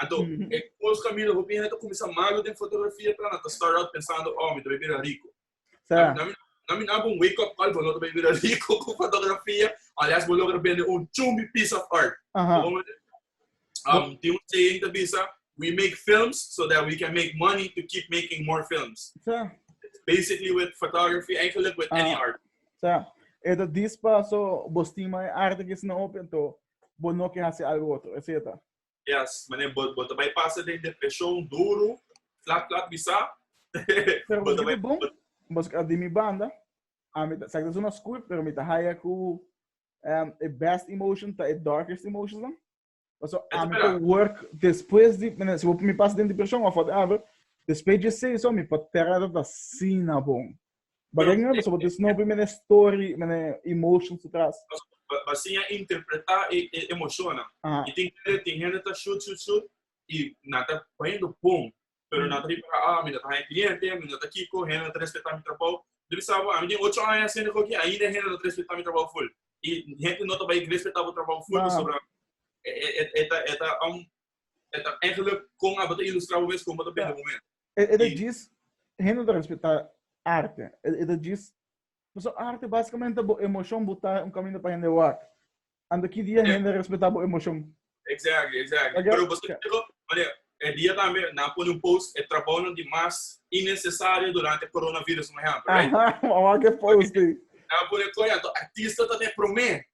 Speaker 2: Anto, e cos cu a mira hopi hende ta cuminsa malo den fotografia ta, nan ta start out pensando, oh, mi ta bay bira rico. Sa. Nan, nan mi na habo un wake up call, bo no ta bay bira rico cu fotografia, alias bo logra bende un chumbi piece of art. Aha. Bo comprende? Um, tin un saying ta bisa, we make films so that we can make money to keep making more films. Sa. Basically with photography, eigenlijk with any Ah. art. Sa. E ta
Speaker 1: dispa, so, bo stima e arte ki sna hopi, anto, bo no ke haci algo otro. Esey ta. Yes, mané,
Speaker 2: bo, bo te bai pasa den depresión duro, flat, flat, bisa. Pero bo
Speaker 1: te bai... Bon, mas a di mi banda, a mi, sa que es una school, pero mi te haya ku um, e best emotion ta e darkest emotions dan. Paso a mi te work después di, mané, si bo mi pasa den depresión of whatever, después di seis, so mi patera ta sina bon. Baden nga besa bote sino pri mene story, mene emotions atras. Basinha
Speaker 2: interpreta e e emociona. Aha. I tin kere tin hende ta shoot shoot shoot i na ta poniendo bon. Pero na ta riba ka ah mi na ta haña cliente, mi na ta kiko, hende na ta respeta mi trabou. Bo bisa bo ami tin ocho aña hasiendo akoki ainda hende no ta respeta mi trabou full. I hende no ta bai respeta bo trabou full pasobra e e e ta e ta un e ta eigenlijk kon abo ta ilustra bo mes kon bo ta bende momen. E, e ta djis,
Speaker 1: hende no ta respeta arte. E, e ta djis, paso arte basikamente bo emocion buta un kaminda pa hende wak. Ando ki dia hende respeta bo emocion? Exactly, exactly.
Speaker 2: Oké, Pero paso oké. diego, mane, e dia tambe nan pone un post, e trabounan di mas innecesario durante coronavirus, un ehempel, right? Aha, wak e post ei.
Speaker 1: Nan pone koe
Speaker 2: anto, artista ta den prome,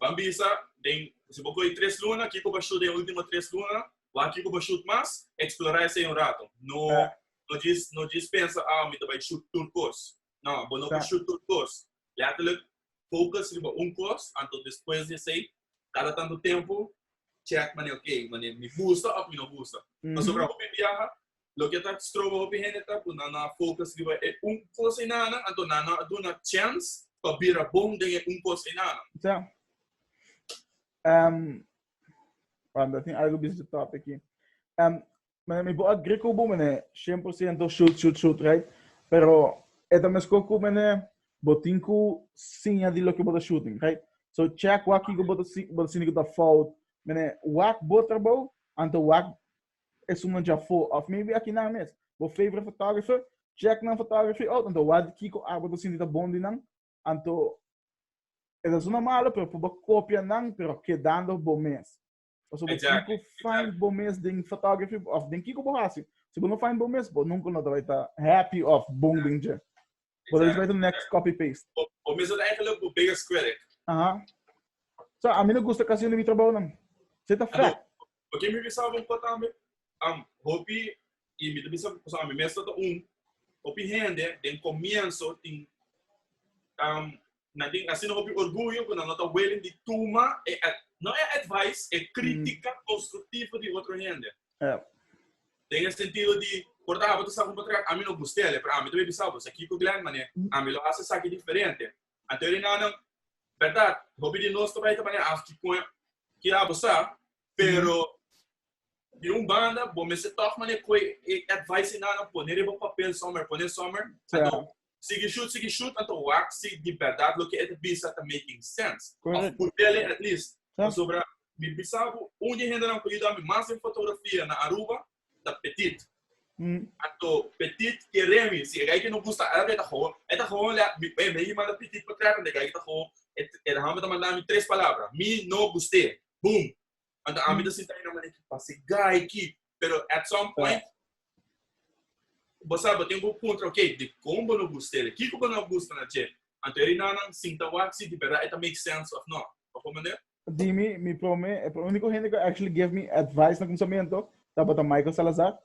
Speaker 2: Ban bisa den, si bo kohe tres luna, kiko bo shut den ultimo tres luna? Wak kiko bo shut mas? Eksplorá esei un rato. No no djis no djis pensa, ah, mi ta bai shut tur kos. No, bo no por shut tur kos. Lètterlijk, focus riba un kos, anto despues di esei, kada tantu tempu, check manera, okay, manera mi gusta òf mi no gusta. Pasobra hopi biaha, Loke ta stroba hopi hende ta ku nan no a fokus riba e un kos einanan, anto nan no a duna chèns pa bira bon den e un kos
Speaker 1: einanan. Sa, wak, ta tin algu bisnis tòp aki. Mene, mi por a gri ku bo, mene, shen por siento shut, shut, shut, right? Pero e ta meskó ku, mene, bo tin ku siña di loke bo ta shooting, right? So, chèk wak kiko bo ta bo ta sinti ku ta fout, mene, wak bo trabou, anto wak Esun nan dja fo of maybe akinan mes. Bo favorite photographer, check nan photography out anto wak di kiko arbed bo sinti ta bon di nan anto e ta sona malo pero por bo copia nan pero kedando bo mes. Paso bo tin cu find bo mes den photography of den kiko bo haci. Si bo no find bo mes bo nunca lo ta bay ta happy of bon den dje. Bo ta display su next copy paste. Bo bo mesmo ta eigenlijk
Speaker 2: bo biggest critic. Aha.
Speaker 1: So ami no gusta casi di mi trabounan. Sey ta fact. Bo kier mi bisa bo
Speaker 2: un cos tambe? Am hopi y mi ta bisa pasobra ami mesmo ta un hopi hende den comienso tin am nan tin asina hopi orguyo ku nan no ta wiling di tuma e, no e advice, e kritika konstruktivo di otro hende. Den e sentido di, por ta abo ta sa ku patrón ami no gusta el, pero ami ta bai bisa bo, esaki ku Glenn manera, ami lo hasi esaki diferente. Anto e rinannan, bèrdat, hopi di nos ta bai ta manera afki kon e ke abo sa, pero di un banda bo mester tòg manera ku e advice rinannan pone riba papel sòmer, pone sòmer, anto Sigi shoot sigi shoot anto wak si di berdad loke e ta bisa ta making sense of ku tele at least pasobra mi bisa bo un di e hendenan ku yuda mi mas den fotografia na Aruba ta Petit anto Petit kere mi si e gai ke no gusta el e ta gowon e ta gowon lea mi e mi manda Petit pa trèt anto e gai ke ta gowon e ta hami ta manda mi tres palabra mi no gust'e boom Anta a mi ta sinta i na manera ki pase gai ki, pero at some point, bo sa, bo tin ku puntra, ok, di kon bo no gusta el e? Kiko bo no gusta na dje? Anta e rinannan sinta wak si di berdad e ta make sense òf nò. Òf un manera? Di mi, mi promé,
Speaker 1: e úniko hende ku actually give mi advice na kuminsamentu tabata Michael Salazar.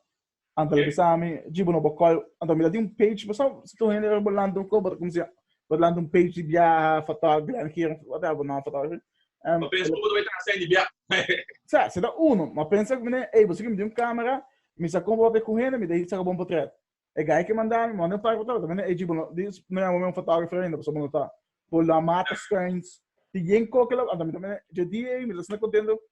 Speaker 1: Anto lo bisa mi, jibo no bo call, anto mi da di un page, bo sa, si tu hende bo lanta un call, bo ta como se, bo lanta un page di biaha, photography, Glen Heren, whatever, no, photography. Um, bo pensa como
Speaker 2: ta hacer di biaha. sa, se da
Speaker 1: uno, ma pensa como ne, ey, bo si mi di un camera, mi sa como papia cu hende, mi da saca bon portret. E guy que manda mi, manda un par portret, me ne, ey, jibo no, di, no llama me un photographer ainda, pasobra bo no ta, bo la mata screens, di yen coke la, anto mi ta, JD, ey, mi ta sina contento,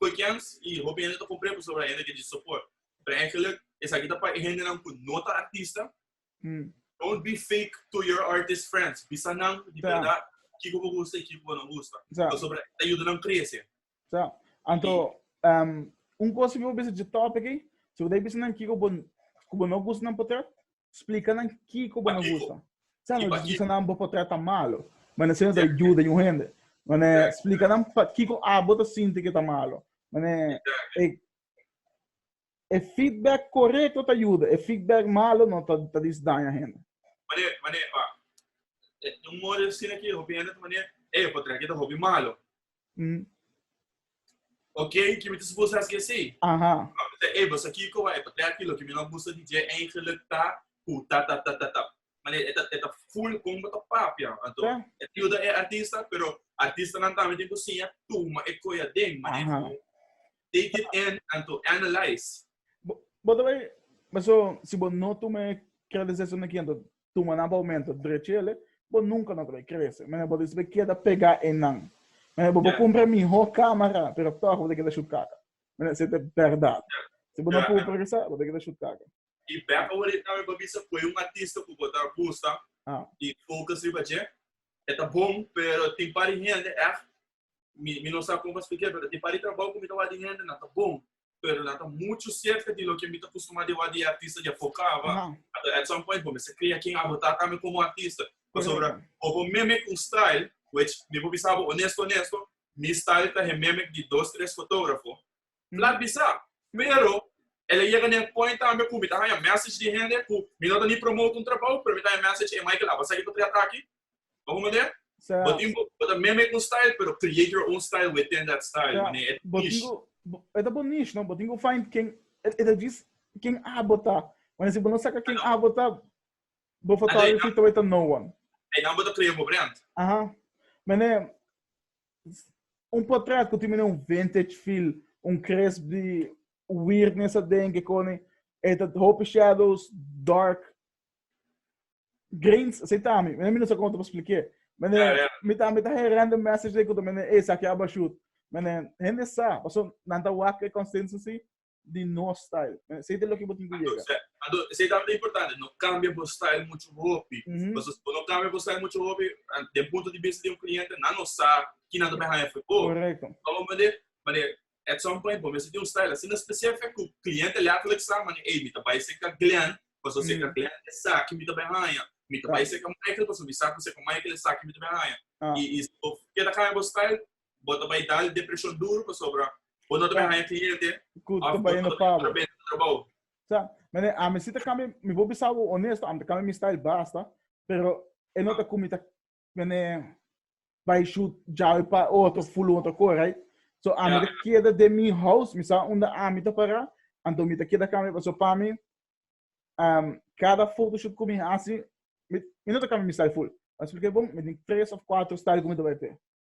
Speaker 2: Bekends y hopi hende ta compré pasobra hende ta di support. Pero eigenlijk esaki ta pa e hendenan cu no ta artista. Don't be fake to your artist friends. Bisa nan di berdad kico bo gusta y kico bo no gusta. Pasobra e ta yuda nan crece. Sa. Anto,
Speaker 1: un cos hopi bo bisa dje topic ey. Si bo ta bisa nan kico bo, cu bo no gusta nan potrot. Splika nan kiko bo no gusta. Sa no disgusta nan bo por trata malo. Manera asina ta yuda un hende. Manera splika nan pakiko abo ta sinti ku e ta malo. Manera e e feedback korekto ta yuda. E feedback malo no ta ta disdaña hende. Manera manera pa
Speaker 2: un modo asina ku hopi hende ta manera ey yo por traha ku e ta hopi malo. Mm. Ok, que me dice así así. Ajá. Te eba, sa kiko wa epa, te aquí lo que me no gusta di je eigenlijk ta, pu ta ta ta ta ta. Mane, eta, eta full con bota papia. Anto, yeah. et yuda e artista, pero artista nan tambe den kusinya, tuma e koya den, mane, Ajá. take it in, anto, analyze. Bo,
Speaker 1: bo, bo, so, si bo no tuma e kredesesuna kianto, tuma nan pa aumenta drechele, bo nunka no ta bay crece. Mene bo ta esbe keda pega enan. Mene bo por cumpra miho camera, pero toch bo ta keda shut caca. Mene se ta berdad. Si bo no progresa, bo ta keda shut caca. Y back awor
Speaker 2: ta mi pa bisa cu e un artista cu bo ta gusta y focus riba dje, e ta bon, pero tin un par di hende ech mi, mi no sa con pa explicar, pero di pari trabajo que mi ta wak di gente, na ta bon. Pero na ta mucho cerca di lo que mi ta costumado di wak di artista ya focaba. No. At, at some point, bo, mi se crea quien abo ta tambe como artista. Por sobra, o bo mimic un style, which mi bo bisabo honesto, honesto, mi style ta he mimic di dos, tres fotógrafo, M la bisa, pero el a yega na e point tambe ku mi ta haña message di hende ku mi no ta ni promote un trabou, pero mi ta haña message, ey Michael, aba sa ki ta trata aki? Bo hopi manera? Sea. Bo tin bo ta meme ku un style, pero create your own style within that style, Sea. mane e ta Bo tin niche.
Speaker 1: ku, e ta bo niche, no? Bo tin ku find ken, e ta djis ken abo ta. Mane si bo no saka ken abo ta, bo for Anto e tabay nan, fita wei ta no one. e nan bo ta crea bo
Speaker 2: brand. Aha. Mane,
Speaker 1: Un potra cu timina un vintage feel, un crisp di weirdness aden que cone e ta hopi shadows, dark grains, así ta mi, mi no sa como ta pa splique, mende yeah, yeah. mi ta mi ta he random message de cu ta mende e sa que aba shoot, mende hende sa, paso nan ta wak e consensus si, di no style. Eh, Esei ta loke bo tin ku yega. Entonces, ado, esei ta tabata
Speaker 2: importante, no kambia bo style muchu hopi. Mhm. Pasobra si bo no kambia bo style muchu hopi, ah, den punto di bista di un kliente, nan no sa ki nan ta bay haña for bo. Korekto. Bo a
Speaker 1: manera, manera,
Speaker 2: at some point bo mester tin un style asina specific ku kliente letterlijk sa manera, ey, mi ta bay serka Glen, pasobra serka Mm. Glen esaki mi ta bay haña. Mi ta Right. bay serka Michael, pasobra mi sa ku serka Michael esaki mi ta bay haña. Ah. I, i si bo keda kambia bo style, bo ta bai dal depresion duru pasobra bo no ta bai haya kliente Ku ta bai no pa
Speaker 1: bo. trabou.
Speaker 2: Sa, mane,
Speaker 1: ami si ta kambia, mi por bisa bo honesto, ami ta kambia mi style basta, pero e no ta ku mi ta, mane, bai shoot djawe pa otro fulon ta ko, right? So ami ta keda den mi house, mi sa unda ami ta para, anto mi ta keda kambia paso pa mi um kada photoshoot ku mi hasi, mi mi no ta kambia mi style full. Mi a splik'é bon, mi tin tres of kuatro style ku mi ta bai p'é.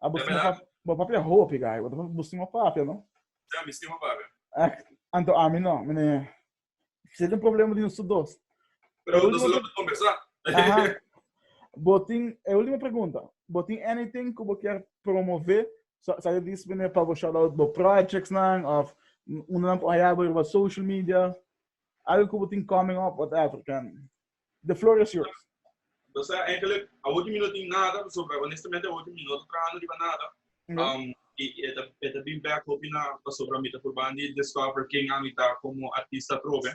Speaker 1: Ah, bo stima papia, bo papia hopi guy, bo stima papia, no? Ja, mi stima papia.
Speaker 2: Ah, anto ami
Speaker 1: no, mene, se tem problema di nos dos. Pero nos
Speaker 2: lo pa conversa. Aha. Bo tin,
Speaker 1: e ultima pregunta, bo tin anything ku bo kier promove, sa, sa di spene pa bo shout out bo projects nan, of uno nan por haya bo riba social media, algo ku bo tin coming up, whatever, ken. The floor is yours. O sea, eigenlijk,
Speaker 2: awor di mi no tin nada, pasobra honestamente awor di mi no ta trahando riba nada. Um, y, y eta, eta bin back hopi na, pasobra mi ta purban di discover ken ami ta como artista atrobe.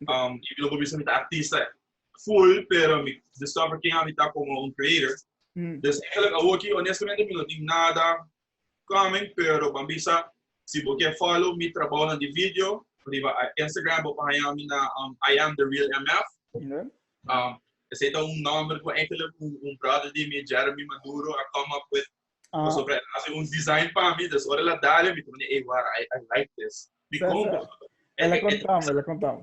Speaker 2: Um, y mi no por bisa mi ta artista full, pero mi discover ken ami ta como un creator. Dus eigenlijk awor ki honestamente mi no tin nada coming pero ban bisa si bo ke follow mi trabounan di video riba Instagram bo por haña mi na IamTheRealMF esei ta un nomber ku enkele un brother di mi Jeremy Maduro a come up with paso por e a hasi un design pa mi dus ora el a dal mi ta wak ey wara I like this mi compra.
Speaker 1: Ela konta mi ela konta mi.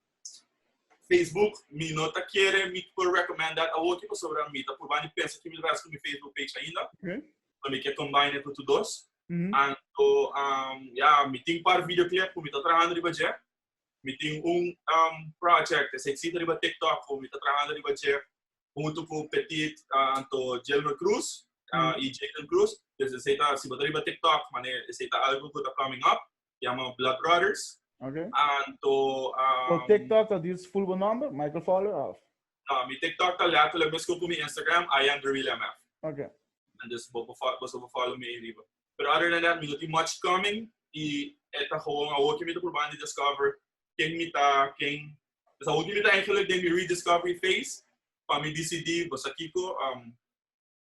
Speaker 2: Facebook mi no ta kere mi por recommend dat awoki pasobra mi ta purba di pensa kimin ras ku mi Facebook page ainda so mi ke combine e tutu dos anto ya mi tin par video clip ku mi ta trahando riba dje mi tin un project esei ta riba TikTok ku mi ta trahando riba dje huntu ku Petit anto Djelmer Cruz y Jaden Cruz pues esei ta si bo ta riba TikTok mane esei ta algu ku ta coming up Yama Blood Brothers. Okay. Anto... Um, Por TikTok
Speaker 1: ta dis full bo number? Michael Fowler of? No, mi TikTok
Speaker 2: ta letterlijk misko ku mi Instagram, I am the real MF. Okay. And
Speaker 1: dus bo
Speaker 2: bo bo follow me riba. But other than that, mi no ti much coming. I eta gewoon a hoki mi te proban di discover ken mi ta, ken... Dus a hoki mi ta eigenlijk den mi rediscovery phase. Pa mi decidi, bosa kiko, um,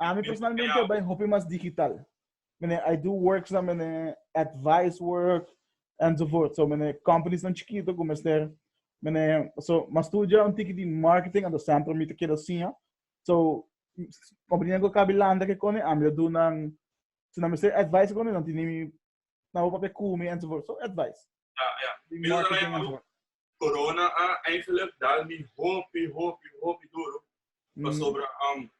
Speaker 1: A mi personalmente bai hopi mas digital. Mene, I do works na mene advice work enzovoort. So mene companies nan chiquito ku mester mene so mas studia un tiki di marketing ando sempre mi te keda siña. So company nan ku kabi landa ke koni a mi ta do nan si nan mester advice koni nan tini mi na ho papia kumi enzovoort. So advice. Ja, ja. Mi lo dal
Speaker 2: ejemplo, corona a eigenlijk dal mi hopi, hopi, hopi duro. Mm. Pasobra, um,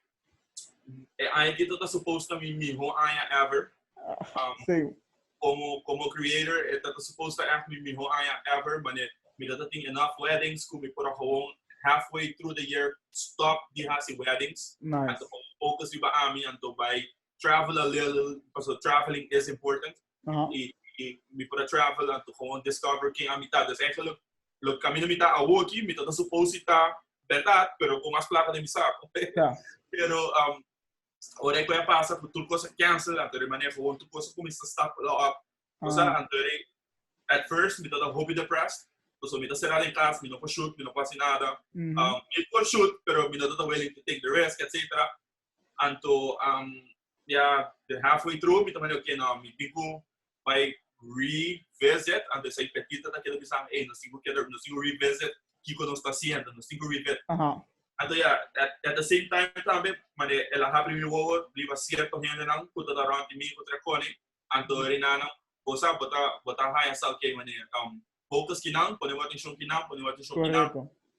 Speaker 2: e aña ki ta supposed ta mi miho aña ever. Ah, um, Same. Como, como creator, e ta supposed ta echt mi miho aña ever, mane mi ta tin enough weddings, ku mi por gewoon halfway through the year stop di hasi weddings. Nice. Anto focus
Speaker 1: mi ba
Speaker 2: ami, anto bai travel a little, paso traveling is important. Uh -huh. Y, y mi para travel and to gewoon discover quién a mitad. Dus eigenlijk, lo camino mitad a woki, mitad a suposita verdad, pero con más plata de mi saco. yeah. Pero, um, ora ik a pasa, por tur cosa cancel, and de manera gewoon tur cosa comienza a stap lo up. O sea, and de, at first, mitad a hobby depressed. Paso mitad cerrado en casa, mi no pa shoot, mi no pa hacer nada. Mm -hmm. um, mi pa shoot, pero mi no ta willing to take the risk, etcetera. Anto um, ya de halfway through, mi tamane, oké, no, mi tin ku bai revisit, anto esai Pepita ta keda bisan, ey, nos tin ku keda, nos tin ku revisit kiko nos ta hasiendo, nos tin ku revisit. Uh -huh. Anto ya, at, at the same time tambe, mane el a hapri mi wowo riba cierto hendenan ku ta around di mi ku tre koni, anto Rinana, bo sa, bo ta, bo ta haya sa, oké, mane, um, focus kinan, pone bo atencion kinan, pone bo atencion kinan,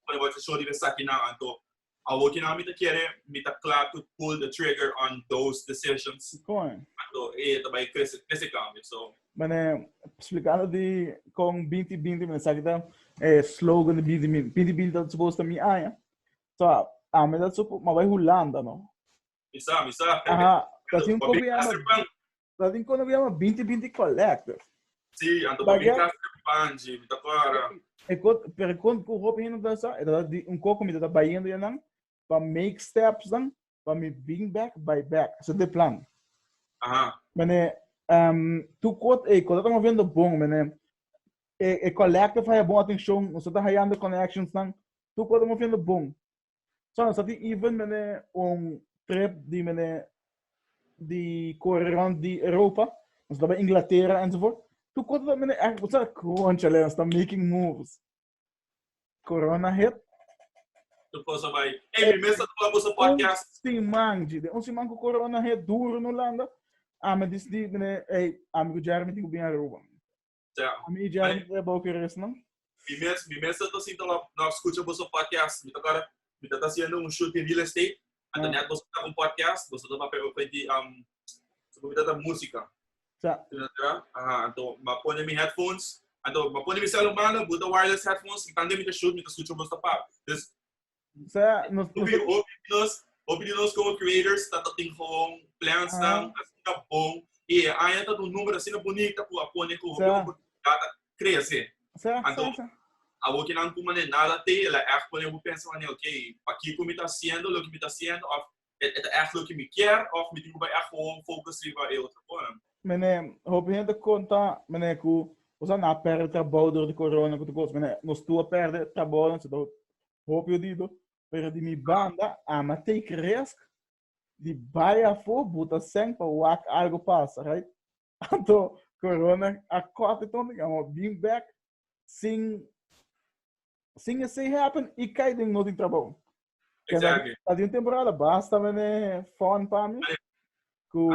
Speaker 2: pone bo atencion riba sa kinan, anto Awor ki nan mi ta kere, mi ta kla to pull the trigger on those decisions. Kon? Anto e ta bai krese, krese kambio. So, Mene
Speaker 1: splikando di kon binti binti, mene sa ki ta e slogan di binti binti. Binti binti ta supos ta mi aña. So, ami ta supo, mi a bai Hulanda, no? mi sa, mi sa.
Speaker 2: Aha,
Speaker 1: ta sin un Papi, problema. Master Juan, Sa tin kos na biaha ma binti binti collective. Si, anto
Speaker 2: pa mi kasa den Panji, mi ta para. E kon, pero kon
Speaker 1: ku hopi hende ta sa, e ta di un koko mi ta bayendo ya nan pa make steps dan pa mi bring back, buy back. Esa de plan. Aha. Mene, um, tu kot e kota ta moviendo bon, mene. E, e collective haya bon atención, nosotros hayando connections dan, tu kota moviendo bon. So nos a tin even mene un trip di mene di corre rond di Europa, nos ta bij Inglaterra enzovoort. Tu kota dat mene echt, sa crunch alea, nos ta making moves. Corona hit. Tu
Speaker 2: cosa bij. Hey, mi mesa tu a bosa podcast. Un siman, G, de un
Speaker 1: siman ku corona hit duro in Holanda. Ame dis di mene, hey, amigo Jeremy tin ku bin Aruba. Cha. Mi i Jeremy ta ebao kere esnan? Mi mes, mi mes
Speaker 2: ta sinta lo, lo a scucha boso podcast. Mi ta core, mi ta ta haciendo un shoot di real estate, anta net boso ta un podcast, boso ta papia ope di, um, segun mi ta ta musica. Cha. Tin na tera? Aha, anto ma pone mi headphones, anto ma pone mi cel humano, buta wireless headphones, y tande mi ta shoot, mi ta scucha boso ta pap. Dus, Hopi di nos como creators ta tin gewoon plansnan asina bon y e aña ta un number asina bonita cu a pone cu hopi oportunidad ta crece. Anto awor ke nan cu manera nada te el a echt pone bo pensa, ok, pakico mi ta haciendo loke mi ta haciendo of E ta ègt loke mi kier òf mi tin ku bai ègt gewoon fokus riba e otro kosnan? Mene, hopi
Speaker 1: hende ta konta, mene, ku nos a na pèrdè trabou dor di korona ku tur kos. Mene, nos tur a pèrdè trabounan, chata hopi, hopi odido. Pero di mi banda, ami a take resk di bai afó, buta sèn pa wak algu pasa, right? Anto corona a corte tonde que amo bin back sin sin ese happen y kai den no tin trabajo. Exactly. Exactly.
Speaker 2: Adi un temporada
Speaker 1: basta mene fun pa mi. Ku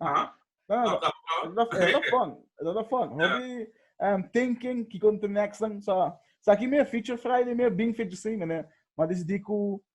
Speaker 1: Ah. No, no, Tap, tap, no. dat dat dat fun. Dat dat fun. Ja. Hopi um, thinking ki kon te next dan sa sa ki me feature Friday me bin feature sin mene. Ma decidi ku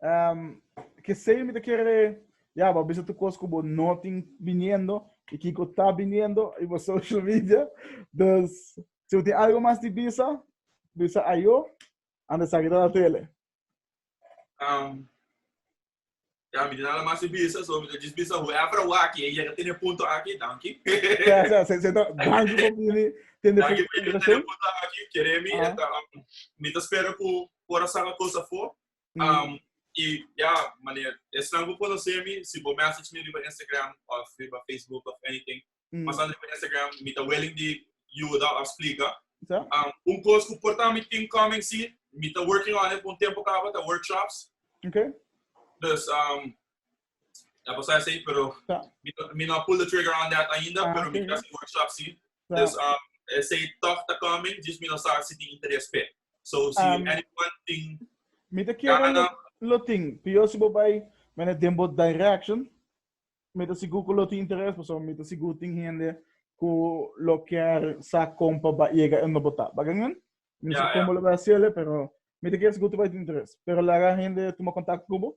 Speaker 1: Um, Kesey mi te kere, ya, bo bisa tu kos ku bo no tin biniendo, i kiko ta biniendo, i bo social media. Dus, si bo tin algo mas di bisa, bisa ayo, antes sa ki ta na tele. Um,
Speaker 2: ya, mi tin nada mas di bisa, so mi ta jis bisa whoever a wak, e yega tene punto aki, danki. Ya, ya, se, se, ta-
Speaker 1: danki po bini. Tende Danki fu- por yega tene
Speaker 2: punto aki, kere mi, Ah. eta, um, mi ta spera ku por a saca cos afo. Um, y ya, maneer, esnan cu conoce mi, si bo message mi riba Instagram of riba Facebook of anything, mm. mas riba Instagram, mi ta willing di juda of explica. So? Um, un cos cu porta mi team coming si, mi ta working on it un tempo cabo, ta workshops. Okay.
Speaker 1: Dus, um,
Speaker 2: ya pasar así, pero so. mi, mi no pull the trigger on that ainda, so, pero okay. mi ta workshop si. Dus um, esei toch ta coming, dus mi no sa si tin interes pe. So, si um, anyone tin... Mi te kiera
Speaker 1: lo, lo tin, pio si bo bai mene den bo direction, mi te sigur ku lo tin interes, paso mi te sigur tin hende ku lo kier sa kompa ba yega en no bota. Bagan men? Mi no sa kombo lo bai asele, pero mi te kier sigur tu bai tin interes. Pero laga hende tuma kontakto ku bo,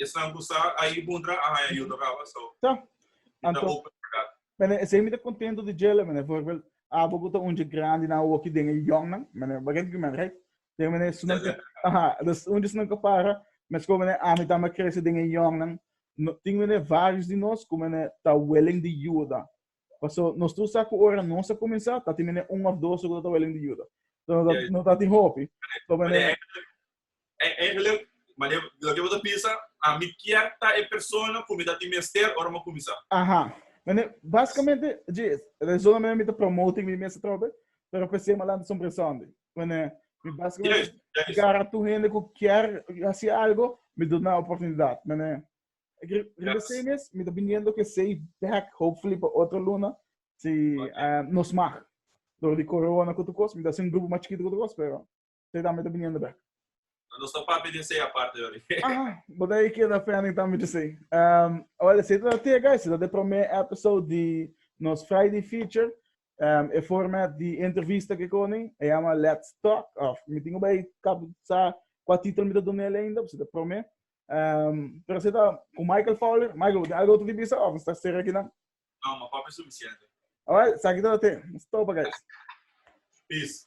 Speaker 2: Esnan ku sa ahi huntra a haña yuta kaba, so Ta. i ta Anto,
Speaker 1: open for that. mene esei mi ta kontento di djela, mene, forbild, abo ku ta un dje grandi na woki den e yòngnan, mene, bagen di primer, right? Pero mene, su nan ka, aha, dus un dje su nan ka para, meskos mene ami tambe a krese den e yòngnan, no, tin, mene, vários di nos ku, mene, ta willing di yuda. Paso nos tur sa ku ora nos a kuminsá, ta tin, mene, un òf dos ku no ta willing di yuda. So no ta, no ta tin hopi. So, mene, E eigenlijk,
Speaker 2: mane loke bo ta bisa, ami kier ta e persona ku mi ta tin mester ora mi kuminsá. Aha. Mane,
Speaker 1: basikamente dje es. Rezon na manera mi ta promoting mi mes atrobe, pero p'esei mi a lanta Sumbre Sunday. Mane, mi basikamente garra tur hende ku kier hasi algu, mi duna oportunidat. Mane, riba esei mes mi ta biniendo ku esei bèk, hopefully pa otro luna, si nos mag. Dor di corona ku otra kos, mi ta hasi un grupo mas chikitu ku otra kos, pero. Te tambe ta biniendo bek. No nos ta
Speaker 2: papi den sei aparte
Speaker 1: yori. Aha, bo ta e keda fending tambe di sei. Um, well, esei ta te guys, ta de prome episode di nos Friday feature. Um, e format di entrevista ke koni, e llama Let's Talk. Of, mi tingo bai kap sa kua titel mi ta done ele ainda, se ta prome. Um, pero se ta ku Michael Fowler. Michael, de algo tu di bisa of sta sera kinan? No, ma papi
Speaker 2: suficiente.
Speaker 1: Well,
Speaker 2: sa
Speaker 1: kita te.
Speaker 2: Stopa
Speaker 1: guys. Peace.